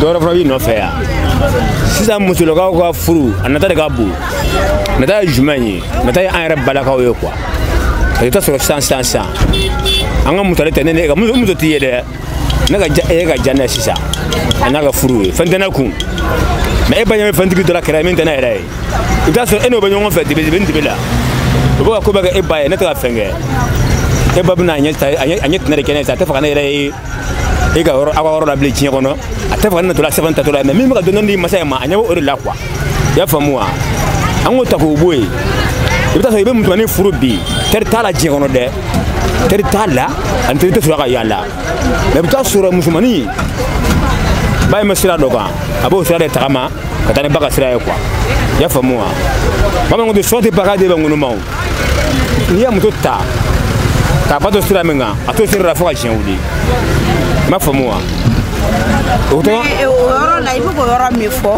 dɔwɛrɛ fana b'i nɔfɛ yan sisan musolakaw ka furu a nata de ka bon nata ye jumɛn ye nata ye an yɛrɛ balakaw ye quoi parce que i t'a sɔrɔ sisan sisan sisan an ka misali tɛ ne ne ka muso t'i ye dɛ ne ka ja e ka ja ne sisan a n'a ka furu ye fɛn tɛ ne kun mais e ba ɲɛ bɛ fɛntigi dɔ la kɛra min tɛ ne yɛrɛ ye i bɛ t'a sɔrɔ e n'o bɛ ɲɔgɔn fɛ dibi dibi ni dibi la o bɛ ka ko bɛɛ kɛ e ba ye ne tɛ ka fɛn kɛ e ba bɛna a ɲɛ a ɲɛ tɛnɛ de kɛ ne ye sa a tɛ fɛ ka ne yɛrɛ ye e ka yɔrɔ aw ka yɔrɔ la bilen diɲɛ kɔnɔ a tɛ fɛ ka ne natɔla sɛbɛn taatɔla ye mais min bɛ ka dɔɔnin dɔɔnin di masa in ma a ɲɛ bɛ o de la quoi i y'a faamu wa an k'o ta k'o bɔ yen i bɛ t'a sɔrɔ i bɛ musomanin furu bi teri t'a la diɲɛ kɔnɔ dɛ teri t'a la ani teri tɛ sɔrɔ ka yaala mais i bɛ t'a sɔrɔ musomanin ba in bɛ sira dɔ kan a b'o sira de tagama ka taa ni ba ka sira ye quoi i y'a faamu wa bamananw ko ten sɔn tɛ pan k'a den bɛ ŋunuma o n'i ye muso ta k'a ba to sira min kan a t'o sira la fo ka diɲɛ wuli i m'a faamu wa o tɔgɔ eh, o yɔrɔ la i bɛ k'o yɔrɔ min fɔ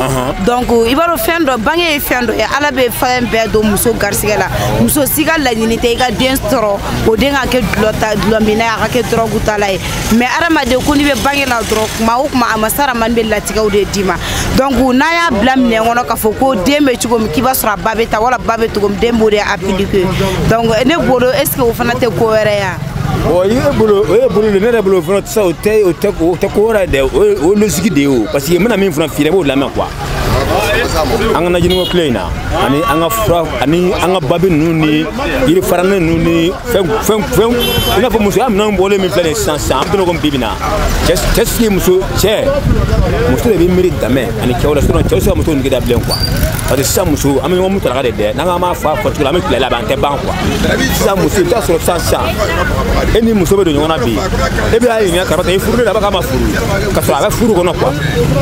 donc i b'a dɔn fɛn dɔ bange ye fɛn dɔ ye ala bɛ fɛn bɛɛ don muso garisigɛ la muso si ka laɲini tɛ i ka den sɔrɔ o den ka kɛ dulɔ ta dulɔminna ye a ka kɛ dɔrɔgutala ye mais adamaden ko n'i bɛ bange la dɔrɔn kuma o kuma a masa ramani bɛ latigɛw de d'i ma donc n'a y'a bila minɛn kɔnɔ k'a fɔ ko den bɛ cogo min k'i b'a sɔrɔ a ba bɛ tan wala ba bɛ cogo min den b'o de appliquer donc ne bolo est ce que o fana tɛ ko wɛrɛ ye wa ɔ i bɛ bolo o ye bolo de ne yɛrɛ bolo fana sisan o tɛ o tɛ o tɛ ko wɛrɛ ye dɛ o ye o ye logique de ye o parce que n bɛna min fana f'i ye i b'o lamɛn quoi an ka najiniko kile in na ani an ka fura ani an ka babi ninnu ni yiri faranin ninnu ni fɛn fɛn fɛn i n'a fɔ musoya minɛnw bɔlen min filɛ nin ye sisan sisan an bɛna komi bi bi na cɛ cɛ sigi muso cɛ muso de bɛ miiri damɛ ani cɛw la sinon cɛw tɛ se ka muso nege da bilen quoi parce que sisan muso an bɛ ɲɔgɔn mutaraka de dɛ n'an k'an b'a fɔ a fɔcogo la an bɛ tile laban an tɛ ban quoi sisan muso i bɛ t'a sɔrɔ sisan sisan e ni muso bɛ don ɲɔgɔn na bi e bɛ y'a ɲininka karisa i furu de la a b'a k'a ma furu ka sɔrɔ a bɛ furu kɔnɔ quoi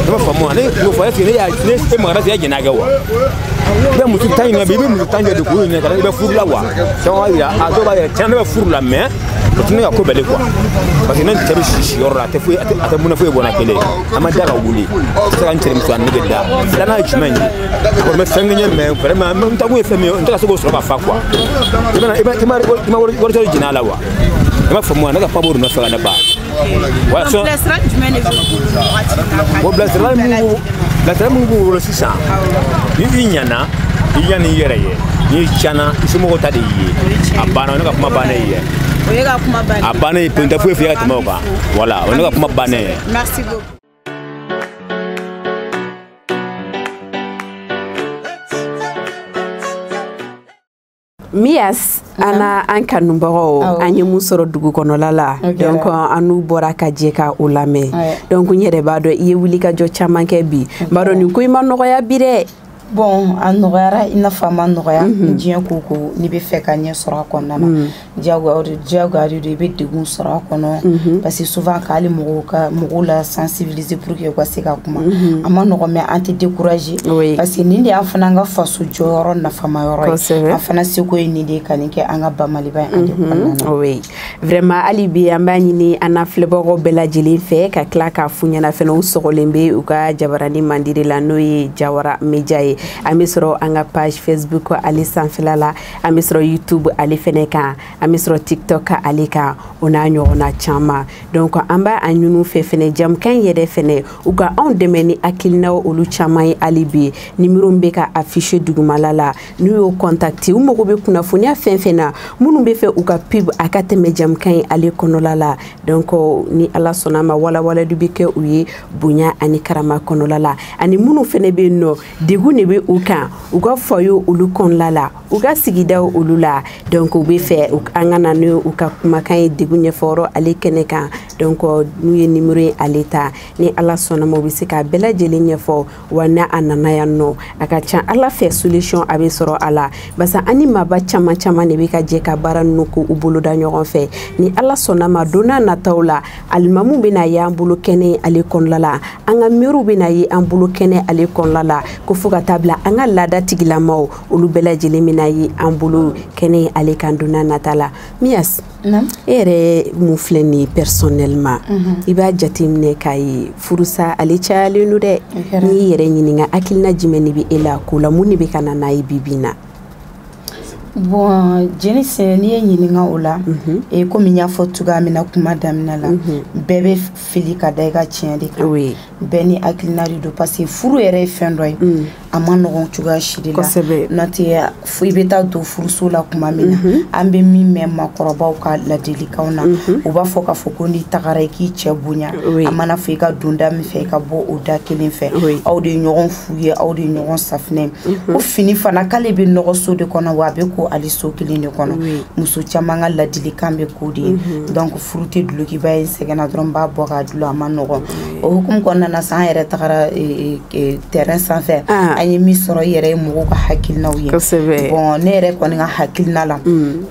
ne m'a faamu ne y'o fɔ est ce que ne y'a ne e magara se e jɛn'a kɛ wa i bɛ muso tan ɲininka bi i bɛ muso tan jɔ de k'o ɲininka ka i bɛ furu la wa caman b'a yira a dɔw b'a yira tiɲɛ ne bɛ furu la mais o tɛ ne ka ko bɛɛ le quoi parce que ne cɛ bɛ si si yɔrɔ la a tɛ foyi a tɛ mun na foyi bɔ n na kelen an ma da ka wuli a tɛ se ka n cɛnimusoya nege da filanan ye jumɛn ye a kɔni bɛ fɛn kɛ n ye mais vraiment n taakun ye fɛn min ye n tɛ ka se k'o sɔrɔ ka fa quoi i ma i ma wari sɔrɔ jɛn'a la wa i m'a faamu wa ne ka paburu nɔfɛ ka ne ba bilasirali jumɛn de bɛ bilasirali mun bilasirali mun b'u bolo sisan ni i ɲana i ɲan'i i yɛrɛ ye n'i tiɲɛna i somɔgɔw ta de y'i ye a banna ne ka kuma bannen ye o ye ka kuma banna a bannen ye pew n tɛ foyi f'i ye ka tɛmɛ o kan voilà o ye ne ka kuma bannen ye merci beaucoup Mias an an kanubagaw an ye mun sɔrɔ dugu kɔnɔla la donc an n'u bɔra ka jɛ ka o lamɛn donc n yɛrɛ b'a dɔn i ye wulikajɔ caman kɛ bi b'a dɔn nin ko in ma nɔgɔya bi dɛ bon a nɔgɔyara i n'a fɔ a ma nɔgɔya mhm. diɲɛ ko ko n'i bɛ fɛ ka ɲɛ sɔrɔ a kɔnɔna na mhm. diyagoya de i bɛ degun sɔrɔ a kɔnɔ mhm. parce que souvent k'ale mɔgɔw ka mɔgɔw la sensibi se pour que u ka se ka kuma a ma nɔgɔ mais an tɛ décourager parce que nin de y'an fana ka faso jɔyɔrɔ nafama yɔrɔ ye an fana seko ye nin de ye ka nin kɛ an ka ba Maliba ye an de kɔnɔna na oui vraiment hali bi an b'a ɲini an na filɛbagaw bɛɛ lajɛlen fɛ ka tila k'a f'u ɲɛna fɛnɛ u sɔgɔlen bɛ u ka jabarani mandi de la n'o ye jawara media ye an bɛ sɔrɔ an ka page facebook ale sanfɛla la an bɛ sɔrɔ youtube ale fɛnɛ kan an bɛ sɔrɔ tiktok ka ale kan o n'a ɲɔgɔnna caman donc an b'a a ɲini u fɛ fɛnɛ jɛmukan yɛrɛ fɛnɛ u ka anw dɛmɛ ni hakilinaw olu caman ye hali bi nimero min bɛ ka afficher dugumala la n'u y'o contacter u mago bɛ kunnafoniya fɛn fɛn na minnu bɛ fɛ u ka pub a ka tɛmɛ jɛmukan ye ale kɔnɔla la donc ni ala sɔnna ma walawalali bɛ kɛ u ye bonya ani karama kɔnɔla la ani minnu fɛnɛ bɛ yen nɔ degun de bɛ u kan u ka foyer olu kɔnɔla la u ka sigidaw olu la donc u bɛ fɛ an ka na ni u ka kumakan ye degun ɲɛfɔyɔrɔ ale kɛnɛ kan donc n'u ye nimero ye ale ta ni ala sɔnna ma u bɛ se k'a bɛɛ lajɛlen ɲɛfɔ wa n'a a nana yan nɔ a ka ca ala fɛ solution a bɛ sɔrɔ a la barisa an ni maaba caman caman de bɛ ka jɛ ka baara ninnu k'u boloda ɲɔgɔn fɛ ni ala sɔnna ma don nataw la alimamu bɛna y'an bolo kɛnɛ ale kɔnɔla la an ka mɛriw bɛna ye an bolo kɛnɛ ale kɔnɔla la ko fo ka taa bila an ka laada tigilamaw olu bɛɛ lajɛlen bɛna ye an bolo kɛnɛ ale kan don nata la Mias e yɛrɛ mun filɛ nin ye personnellement mhm. i b'a jateminɛ k'a ye furusa ale cayalen don dɛ n'i y'i yɛrɛ ɲininka hakilina jumɛn de bɛ e la ko la mun de bɛ ka na n'a ye bi bi in na bon jeni sɛnɛ n'i ye n ɲininka o la mhm. e komi n y'a fɔ cogoya min na kuma daminɛ la mhm. bɛɛ bɛ fili ka da i ka tiɲɛ de kan oui. bɛɛ n'i hakilina de don parce que furu yɛrɛ ye fɛn dɔ ye mm. a ma nɔgɔn cogoya si de la n'o tɛ fo i bɛ taa don furuso la kuma min na mm -hmm. an bɛ min mɛn maakɔrɔbaw ka ladilikanw na mm -hmm. u b'a fɔ k'a fɔ ko n'i tagara i k'i cɛ bonya oui. a mana fɔ i ka don da min fɛ i ka bɔ o da kelen fɛ oui. aw de ye ɲɔgɔn fu ye aw de ye ɲɔgɔn safinɛ mm -hmm. ko fini fana k'ale bɛ nɔgɔ so de kɔnɔ wa a bɛ ko ale so kelen de kɔnɔ oui. muso caman ka ladilikan bɛ k'o de ye mm -hmm. donc furu tɛ dulokiba ye n sɛgɛnna dɔrɔn n b'a bɔ k'a dulon a ma nɔgɔn o hukumu kɔnɔna na san an yɛrɛ tagara e, e, e, terrain sanfɛ ah. an ye min sɔrɔ i yɛrɛ ye mɔgɔw ka hakilinaw ye bon ne yɛrɛ kɔni ka hakilina la mm.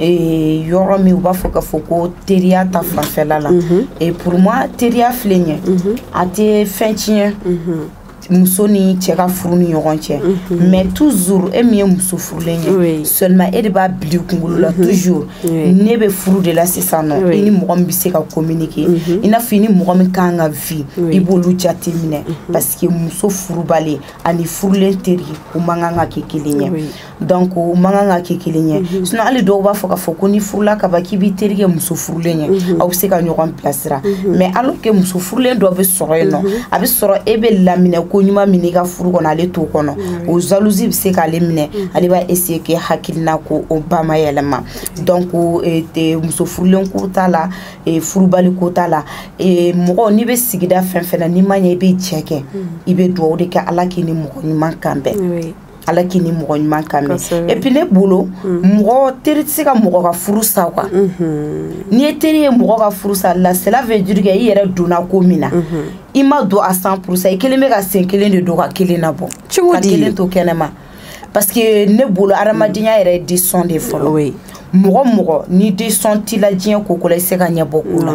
yɔrɔ min u b'a fɔ k'a fɔ ko teriya ta fanfɛla la mm-hmm. pour moi teriya furu ɲɛ mm-hmm. a tɛ fɛn tiɲɛ mm-hmm. muso ni cɛ ka furu ni ɲɔgɔn cɛ mhm. mais toujours e min ye muso furulen ye seulement e de b'a bil'i kunkolo la mhm. toujours ne bɛ furu de la sisan nɔ i ni mɔgɔ min bɛ se ka communiquer mhm. i n'a fɔ i ni mɔgɔ min kan ka vie i b'olu jate minɛ parce que muso furubali ani furulen teri ko man kan ka kɛ kelen ye donc o man kan ka kɛ kelen ye mhm. sinon hali dɔw b'a fɔ k'a fɔ ko n'i furula ka ban k'i b'i teri kɛ muso furulen ye mhm. aw bɛ se ka ɲɔgɔn bilasira mhm. mais alors que muso furulen dɔ bɛ sɔrɔ yen nɔ a bɛ sɔrɔ e bɛ laminɛ ko ɲuman min i ka furu kɔnɔ ale t'o kɔnɔ o jalousie bɛ se k'ale minɛ ale b'a essayer k'e hakilina ko o ba ma yɛlɛma donc e, e, muso furulen ko t'a la e, furubali ko t'a la mɔgɔ n'i bɛ sigida fɛn fɛn na n'i ma ɲɛ i bɛ jɛ kɛ i bɛ dugawu de kɛ ala k'i ni mɔgɔ ɲuman kan bɛn ala k'i ni mɔgɔ ɲuman kan bɛn et puis ne bolo mm. mɔgɔ teri tɛ se ka mɔgɔ ka furu sa quoi mm-hmm. n'i ye teri ye mɔgɔ ka furu sa là cela veut dire que i yɛrɛ donna ko min na mm-hmm. i ma don à cent pour cent i kɛlen bɛ ka sen kelen de don ka kelen nabɔ ka kelen to kɛnɛma parce que ne bolo adamadenya yɛrɛ ye décision de fɔlɔ mɔgɔ mɔgɔ ni décision t'i la diɲɛ ko ko la i se ka ɲɛbɔ ko la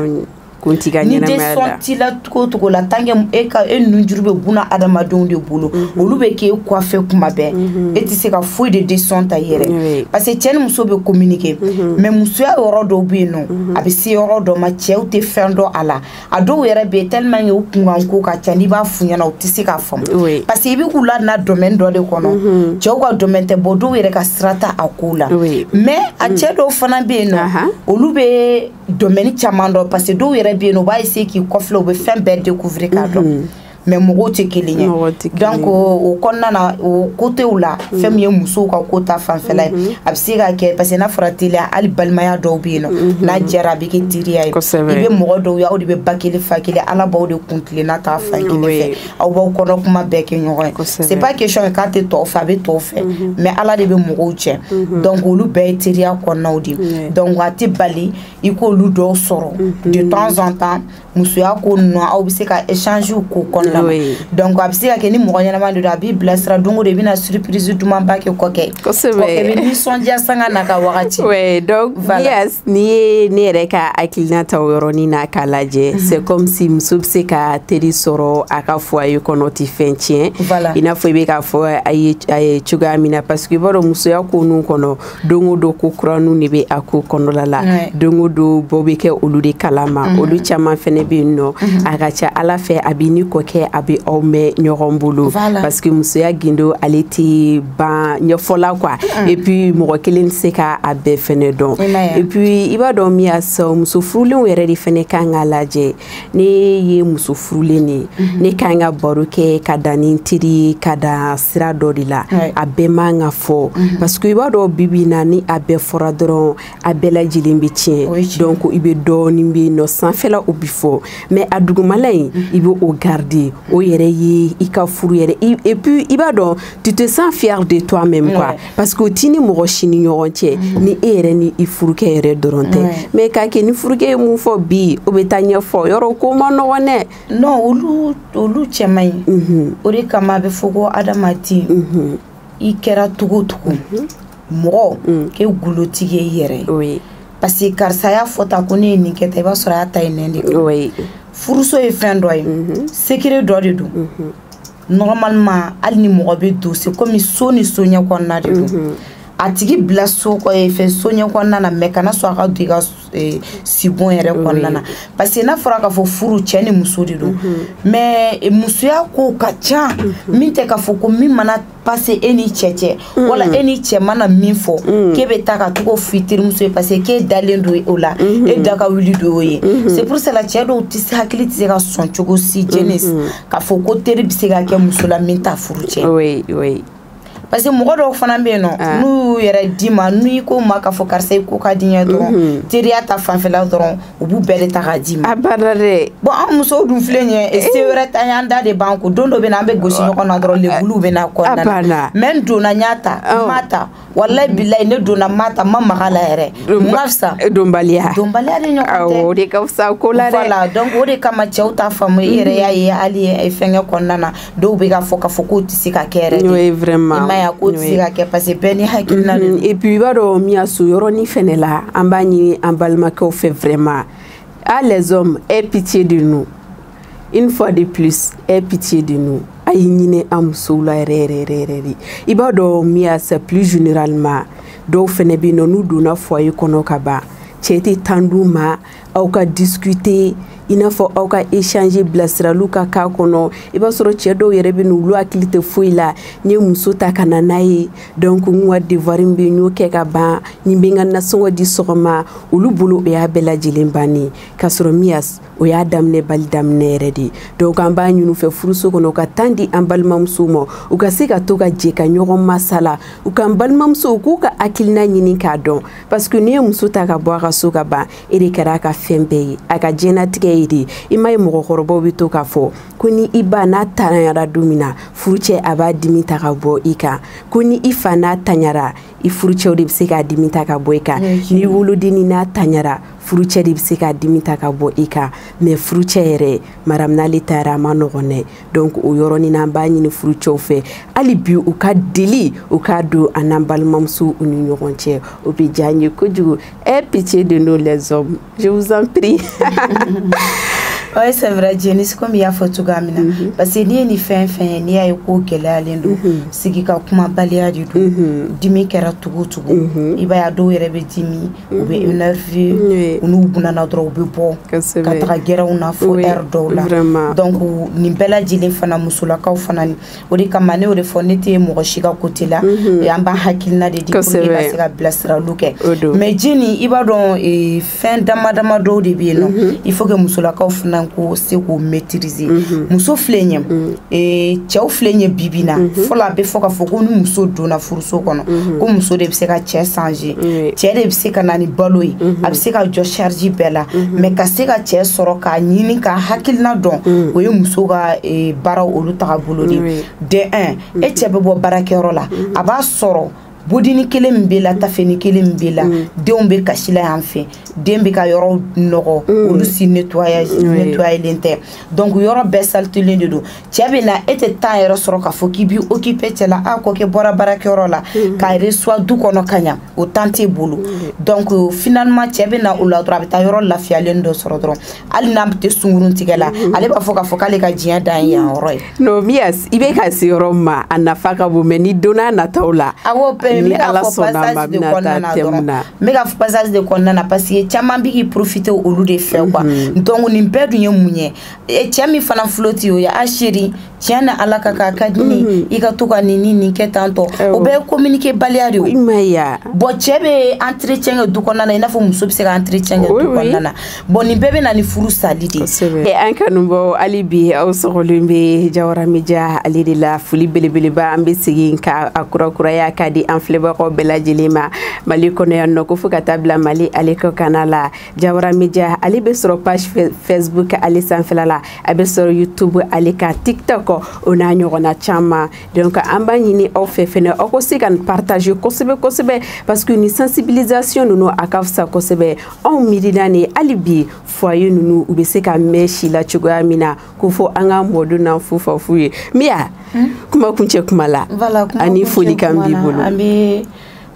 kun t'i ka ɲɛnamaya la ni décision t'i la cogo cogo la tant que e ka e nunjuru bɛ bunadamadenw de bolo mhm. olu bɛ k'e kɔfɛ kuma bɛɛ mhm. e tɛ se ka foyi de décision ta i yɛrɛ parce que cɛ ni muso bɛ communiquer mhm. mais musoya yɔrɔ dɔw bɛ yen nɔ a bɛ se yɔrɔ dɔ ma cɛw tɛ fɛn dɔn a la a dɔw yɛrɛ bɛ yen tellement que u kunkan ko ka ca n'i b'a f'u ɲɛna u tɛ se k'a faamu parce que i bɛ k'u lana domaine dɔ de kɔnɔ cɛw ka domaine tɛ bon dɔw yɛrɛ ka sira t'a a kow la mais a cɛ dɔw fana bɛ yen nɔ olu bɛ domaine caman dɔn parce que dɔw yɛrɛ bɛ yen nɔ u b'a essayer k'i kɔfilɛ u bɛ fɛn bɛɛ découvrir k'a dɔn mhm. mais mɔgɔw tɛ kelen ye donc o kɔnɔna na o côtéw la mhm. fɛn min ye musow ka ko ta fanfɛla ye mhm. a bɛ se ka kɛ parce que n'a fɔra teriya hali balimaya dɔw bɛ yen nɔ n'a jɛra a bɛ kɛ teriya ye i bɛ mɔgɔ dɔw ye aw de bɛ ba kelen fa kelen ala b'aw de kun tilenna k'a fan kelen fɛ aw b'aw kɔnɔ kuma bɛɛ kɛ ɲɔgɔn ye c'est pas question k'a tɛ tɔw fɛ a bɛ tɔw fɛ mhm. mais ala de bɛ mɔgɔw jɛ mhm. donc olu bɛɛ ye teriya kɔnɔnaw de ye donc a tɛ bali i k'olu dɔw sɔrɔ mhm. de temps en temps musoya ko ninnu aw bɛ se ka échange k'o kɔnɔna na donc a bɛ se ka kɛ ni mɔgɔ ɲɛnama de don a b'i bilasira don o don i bɛna surprise dumanba kɛ kɔkɛ kɔkɛ bɛ nisɔndiya sanga n'a ka wagati ouais donc voilà. yes n'i ye ne yɛrɛ ka hakilina ta o yɔrɔnin na k'a lajɛ mm -hmm. c'est comme si muso bɛ se ka teri sɔrɔ a ka foyer kɔnɔ tɛ fɛn tiɲɛ voilà. i n'a fɔ i bɛ k'a fɔ a ye a ye cogoya min na parce que i b'a dɔn musoya ko ninnu kɔnɔ don o don ko kuraninw de bɛ a ko kɔnɔla la ouais. don o don bɔ bɛ kɛ olu de kalama mm -hmm. olu caman fɛnɛ bɛ yen nɔ mm -hmm. a ka ca a la fɛ a b'i n'i kɔkɛ a bɛ aw mɛn ɲɔgɔn bolo voilà. parce que musoya gindo ale tɛ ban ɲɛfɔla quoi mm. et puis mɔgɔ kelen tɛ se ka a bɛɛ fɛnɛ dɔn et puis i b'a dɔn min y'a sɔrɔ muso furulenw yɛrɛ de fɛnɛ ka kan k'a lajɛ ne ye muso furulen de ye mm-hmm. ne ka kan ka baro kɛ ka dan ni n teri ye ka dan sira dɔ de la a bɛɛ man ka fɔ mm-hmm. parce que i b'a dɔn bi bi in na ni a bɛɛ fɔra dɔrɔn a bɛɛ lajɛlen bɛ tiɲɛ donc i bɛ dɔɔnin bɛ yen nɔ sanfɛla o bɛ fɔ mais a dugumala in mm-hmm. i bɛ o garder o yɛrɛ ye i ka furu yɛrɛ et puis i b'a dɔn tu te sens fier de toi même quoi ouais. parce que o t'i ni mɔgɔ si ni ɲɔgɔn cɛ mm -hmm. ni e yɛrɛ ni i furukɛ yɛrɛ dɔrɔn tɛ ouais. mais k'a kɛ ni furukɛ ye mun fɔ bi o bɛ taa ɲɛfɔ yɔrɔ ko man nɔgɔn dɛ non olu olu cɛ man ɲi mm -hmm. o de kama a bɛ fɔ ko adamaden mm -hmm. i kɛra cogo o cogo mm -hmm. mɔgɔ mm. k'e gundotigi ye i yɛrɛ ye oui. parce que karisa y'a fɔ tan ko ne ye nin kɛ tan i b'a sɔrɔ a y'a ta e nɛn de kan oui. furuso ye fɛn dɔ ye mm -hmm. secret dɔ de don mm -hmm. normalement hali ni mɔgɔ bɛ don c'est comme so ni so ɲɛ kɔnɔna de don a tigi bila so eh, fɛ so ɲɛ kɔnɔna na mais kana sɔn a ka don i ka eh, sibon yɛrɛ kɔnɔna na parce que n'a fɔra k'a fɔ furu cɛ ni muso de don mais eh, musoya kow ka ca min tɛ k'a fɔ ko min mana passer e n'i cɛ cɛ wala e ni cɛ mana min fɔ k'e bɛ taa ka t'o ko f'i terimuso ye parce que k'e dalen don o la e da ka wuli don o ye c'est pour cela cɛ dɔw tɛ hakili tɛ se ka sɔn cogo si jɛnɛ k'a fɔ ko teri bɛ se ka kɛ muso la min t'a furu tiɲɛ oui oui parce que mɔgɔ dɔw fana bɛ yen nɔ ah. n'u y'u yɛrɛ d'i ma n'u y'i ko ma k'a fɔ karisa i ko ka di n ye dɔrɔn mhm. teriya ta fanfɛla dɔrɔn u b'o bɛɛ de ta k'a d'i ma a bada dɛ bɔn an musow dun filɛ nin ye eh. se wɛrɛ t'an ye an da de b'an ko don dɔ bɛ na an bɛ gosi ɲɔgɔn na dɔrɔn lebuliw bɛ na kɔnɔna na mais n donna n y'a ta n m'a ta walayi bilayi ne donna n m'a ta n ma maga a la yɛrɛ n ka fisa donbaliya donbaliya de ɲɔgɔn tɛ o de ka fisa ko la dɛ voilà donc o de kama cɛw t'a faamu i yɛrɛ y'a ye hali fɛnkɛ kɔnɔna na dɔw bɛ k'a fɔ k'a fɔ k'o tɛ se ka kɛ yɛrɛ n'o ye vraiment i m'a ye k'o tɛ se ka kɛ parce que bɛɛ n'i hakilina de don mm-hmm. et puis i b'a dɔn min y'a sɔrɔ o yɔrɔnin fɛnɛ la an b'a ɲini an balimakɛw fɛ vraiment ah les hommes aie pitié de nous une fois de plus aie pitié de nous a ye hinɛ an musow la yɛrɛ yɛrɛ yɛrɛ yɛrɛ de i b'a dɔn min y'a sɔrɔ plus généralement dɔw fɛnɛ bɛ yen nɔ n'u donna foyer kɔnɔ ka ban cɛ tɛ temps d'u ma aw ka discuter i n'a fɔ aw ka échanger bilasiraliw ka k'a kɔnɔ i b'a sɔrɔ cɛ dɔw yɛrɛ bɛ yen olu hakili tɛ foyi la n ye muso ta ka na n'a ye donc n ka devoir min bɛ n y'o kɛ ka ban ni n bɛ n ka nasɔngɔ di sɔgɔma olu bolo o y'a bɛɛ lajɛlen bannen k'a sɔrɔ min y'a s o y'a daminɛbali daminɛ yɛrɛ de ye donc an b'a ɲini u fɛ furuso kɔnɔ u ka temps di an balimamusow ma u ka se ka to ka jɛ ka ɲɔgɔn masala u ka balimamusow k'u ka hakilina ɲini k'a dɔn parce que n'i ye muso ta ka bɔ a ka so ka ban e de kɛra a ka fɛn bɛɛ ye a ka diɲɛnatigɛ ye de i m'a ye mɔgɔkɔrɔbaw bɛ to k'a fɔ ko ni i ba n'a tanyara don min na furucɛ a b'a dimi ta ka bɔ i kan ko ni i fa n'a tanyara i furucɛw de bɛ se k'a dimi ta ka bɔ i kan ni wolodenni n'a tanyara furucɛ de bɛ se k'a dimi ta ka bɔ i kan mais furucɛ yɛrɛ maramu n'ale tanyara a ma nɔgɔn dɛ donc o yɔrɔnin na an b'a ɲini furucɛw fɛ hali bi u ka deli u k'a don an n'an balimamusow ni ɲɔgɔn cɛ o bɛ diya n ye kojugu aie pitié de nous les hommes Je vous en prie. oui c'est vrai Janice comme i y'a fɔ cogo min na mhm. parce que n'i ye nin fɛn fɛn n'i y'a ye ko gɛlɛyalen don mhm. sigi ka kumabaliya de don mhm. dimi kɛra tugu tugu i b'a ye dɔw yɛrɛ bɛ dimi u bɛ énervé u n'u bunana dɔrɔn u bɛ bɔ ka taga gɛrɛnw na fo heure dɔw la donc nin bɛɛ lajɛlen fana musolakaw fana o de kama ne y'o de fɔ ne tɛ mɔgɔ si ka côté la mhm. an b'an hakilina de di pour que ka se ka bilasiraliw kɛ mais Jeni i b'a dɔn e, fɛn dama dama dɔw de bɛ yen nɔ mhm. il faut que musolakaw fana ka se k'o maîtriser mhm. muso filɛ ɲɛ e, cɛw filɛ ɲɛ bibi na fɔlɔ a bɛ fɔ ka fɔ ko ni muso donna furuso kɔnɔ ko muso de bɛ se ka cɛ changer cɛ de bɛ se ka na ni balo ye a bɛ se ka jɔ charge bɛɛ la mais ka se ka cɛ sɔrɔ k'a ɲini ka hakilina dɔn o ye muso ka e, baaraw olu tagabolo de de un e cɛ bɛ bɔ baarakɛyɔrɔ la a b'a sɔrɔ bodinin kelen min bɛ la taafenin kelen min bɛ la denw bɛ kasi la yan fɛ den bɛ ka yɔrɔ nɔgɔ olu si nettoyélen tɛ donc yɔrɔ bɛɛ salitélen de don cɛ bɛ na e tɛ temps yɛrɛ sɔrɔ k'a fɔ k'i b'i occuper cɛ la a kɔkɛ bɔra baarakɛyɔrɔ la k'a reçoit du kɔnɔ ka ɲa o temps t'e bolo donc finalement cɛ bɛ na o la dɔrɔn a bɛ taa yɔrɔ lafiyalen dɔ sɔrɔ dɔrɔn hali n'a tɛ sungurutigɛ la mhm. ale b'a fɔ k'a fɔ k'ale ka diɲɛ dan ye yan yɔrɔ ye. non miyas i bɛ ka se yɔrɔ min ma a nafa ka bon mais ni donna nataw la. awɔ pɛrɛn n bɛ k'a fɔ passage de kɔnɔna na dɔrɔn n bɛ k'a fɔ passage de kɔnɔna na parce que caman bɛ k'i profiter olu de fɛ quoi mhm. donc nin bɛɛ dun ye mun ye cɛ min fana flatter o ye ah chérie tiɲɛ na ala ka k'a ka di ne mhm. i ka to ka nin ni nin kɛ tan tɔ o bɛɛ ye communiquer baliya de ye bon cɛ bɛ entretien kɛ du kɔnɔna na i n'a fɔ muso bɛ se ka entretien kɛ du kɔnɔna na bon nin bɛɛ bɛ na ni furu sali de ye an kanubaw hali bi aw sɔgɔlen bɛ jawara media ale de la foli belebeleba an bɛ segin ka a kurakuraya ka di an filɛbagaw bɛɛ lajɛlen ma mali kɔnɔ yan nɔ ko fo ka taa bila mali ale kɔkanna la jawara media ale bɛ sɔrɔ page facebook ale sanfɛla la a bɛ sɔrɔ youtube ale ka tiktok o n'a ɲɔgɔnna caman donc an b'a ɲini aw fɛ fɛnɛ aw ko se ka nin partager kosɛbɛ kosɛbɛ parce que ni sensibilisation ninnu a ka fisa kosɛbɛ anw miirina ni hali bi foyer ninnu u bɛ se ka mɛɛn si la cogoya min na k'o fɔ an ka mɔdenw n'an fufafu ye miya kuma kuncɛ kuma la ani folikan b'i bolo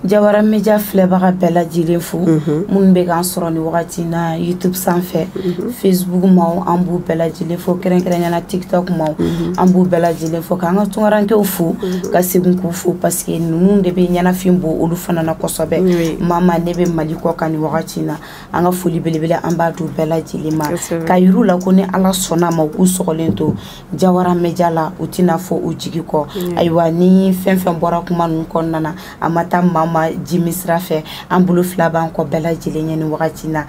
jawara media filɛbaga bɛɛ lajɛlen fo mhm. minnu bɛ k'an sɔrɔ ni wagati na youtube sanfɛ mhm. facebook maw an b'u bɛɛ lajɛlen fo kɛrɛnkɛrɛnyana tiktok maw mhm. an b'u bɛɛ lajɛlen fo k'an ka tunkarankew fo ka segin k'u fo parce que ninnu de bɛ ɲɛnafin bɔ olu fana na kosɛbɛ maa minnu bɛ mali kɔkan ni wagati na an ka foli belebele an b'a di u bɛɛ lajɛlen ma ka yir'u la ko ni ala sɔnna a ma u k'u sɔgɔlen to jawara media la u tɛna fɔ u jigi kɔ mm. ayiwa ni fɛn fɛn bɔra kuma ninnu kɔnɔna na a ma taa maa ma jimi sira fɛ an bolo fila b'an kɔ bɛɛ lajɛlen ye ni wagati na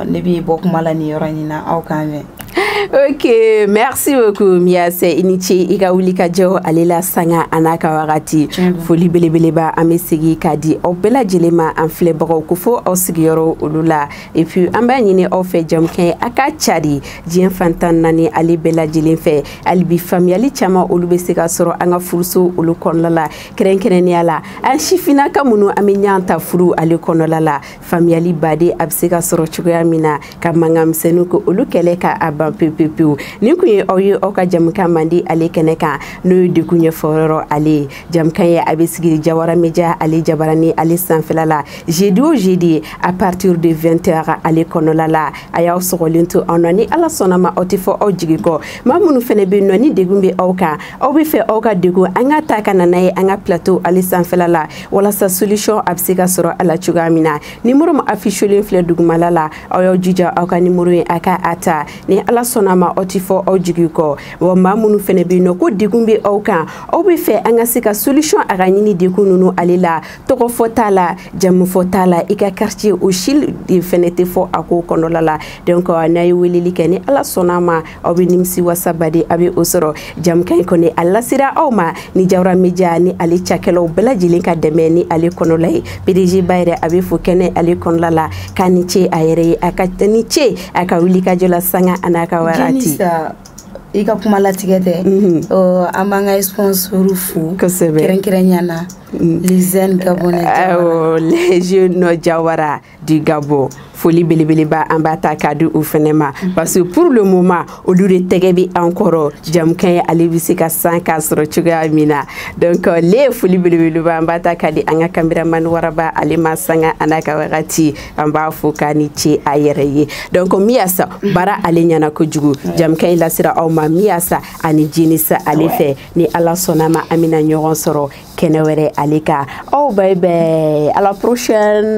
ne bɛ bɔ kuma la nin yɔrɔ nin na aw k'an mɛn ok merci beaucoup miase i ni ce i ka wuli ka jɔ ale la sanga a n'a ka wagati foli belebeleba an bɛ segi k'a di aw bɛɛ lajɛlen ma an filɛbagaw k'aw fo aw sigiyɔrɔ olu la et puis an b'a ɲini aw fɛ jamukan a ka cari diɲɛ fan tan naani ale bɛɛ lajɛlen fɛ hali bi faamuyali caman olu bɛ se ka sɔrɔ an ka furuso olu kɔnɔla la kɛrɛnkɛrɛnnenya la an sifinnaka minnu an bɛ ɲɔgɔn ta furu ale kɔnɔla la faamuyali baden a bɛ se ka sɔrɔ cogoya min na ka mankanmisɛnninw ko olu kɛlɛ ka a ban pewu-pewu nin kun ye aw ye aw ka jamukan mandi ale kɛnɛ kan n'o ye degun ɲɛfɔyɔrɔ ale ye jamukan ye a bɛ sigi jawara media ale jabarani ale sanfɛla la jeudi o jeudi à partir de 20 heures ale kɔnɔla la a y'aw sɔgɔlen to anw na ni ala sɔnna ma aw tɛ fɔ aw jigi kɔ maa minnu fana bɛ nɔ ni degun bɛ aw kan aw bɛ fɛ aw ka degun an ka ta ka na n'a ye an ka plateau ale sanfɛla la walasa solution a bɛ se ka sɔrɔ a la cogoya min na nimoro min affichelen filɛ dugumala la aw y'aw jija aw ka nimoro ye a ka a ta ni ala sɔnna ma aw tɛ fɔ aw jigi kɔ wa maa minnu fana bɛ nɔ ko degun bɛ aw kan aw bɛ fɛ an ka se ka solution a ka ɲini degun ninnu ale la tɔgɔfɔ t'a la jamufɔ t'a la i ka quartier o si de fɛnɛ tɛ fɔ a ko kɔnɔla la donc n'a ye weleli kɛ ni ala sɔnna ma aw bɛ nimisi wasa baden a bɛ o sɔrɔ jamukan in kɔni a lasera aw ma ni jawara media ni ale cakɛlaw bɛɛ lajɛlen ka dɛmɛ ni ale kɔnɔla ye pdg ba yɛrɛ a bɛ fo kɛnɛ ale kɔnɔla la k'a ni ce a yɛrɛ ye a ka ni ce a ka wuli ka jɔ la sanga a n'a ka wagati i ka kuma latigɛ tɛ an b'an ka sponsor fo kɛrɛnkɛrɛnya na mm. les jeunes gabonais les jeunes jawara du gabon foli belebeleba an b'a ta k'a di u fɛnɛ ma mm. parce que pour le moment olu de tɛgɛ bɛ an kɔrɔ jamukan ye ale bɛ se ka sanga sɔrɔ cogoya min na donc le foli belebeleba an b'a ta k'a di an ka cameraman waraba ale ma sanga a n'a ka wagati an b'a fo k'a ni ce a yɛrɛ ye donc miyasa baara ale ɲɛna kojugu jɛmukan in lasera aw ma miyasa ani jenisa ale fɛ ni ala sɔnna ma an bɛna ɲɔgɔn sɔrɔ kɛnɛ wɛrɛ ale kan aw bye bye à la prochaine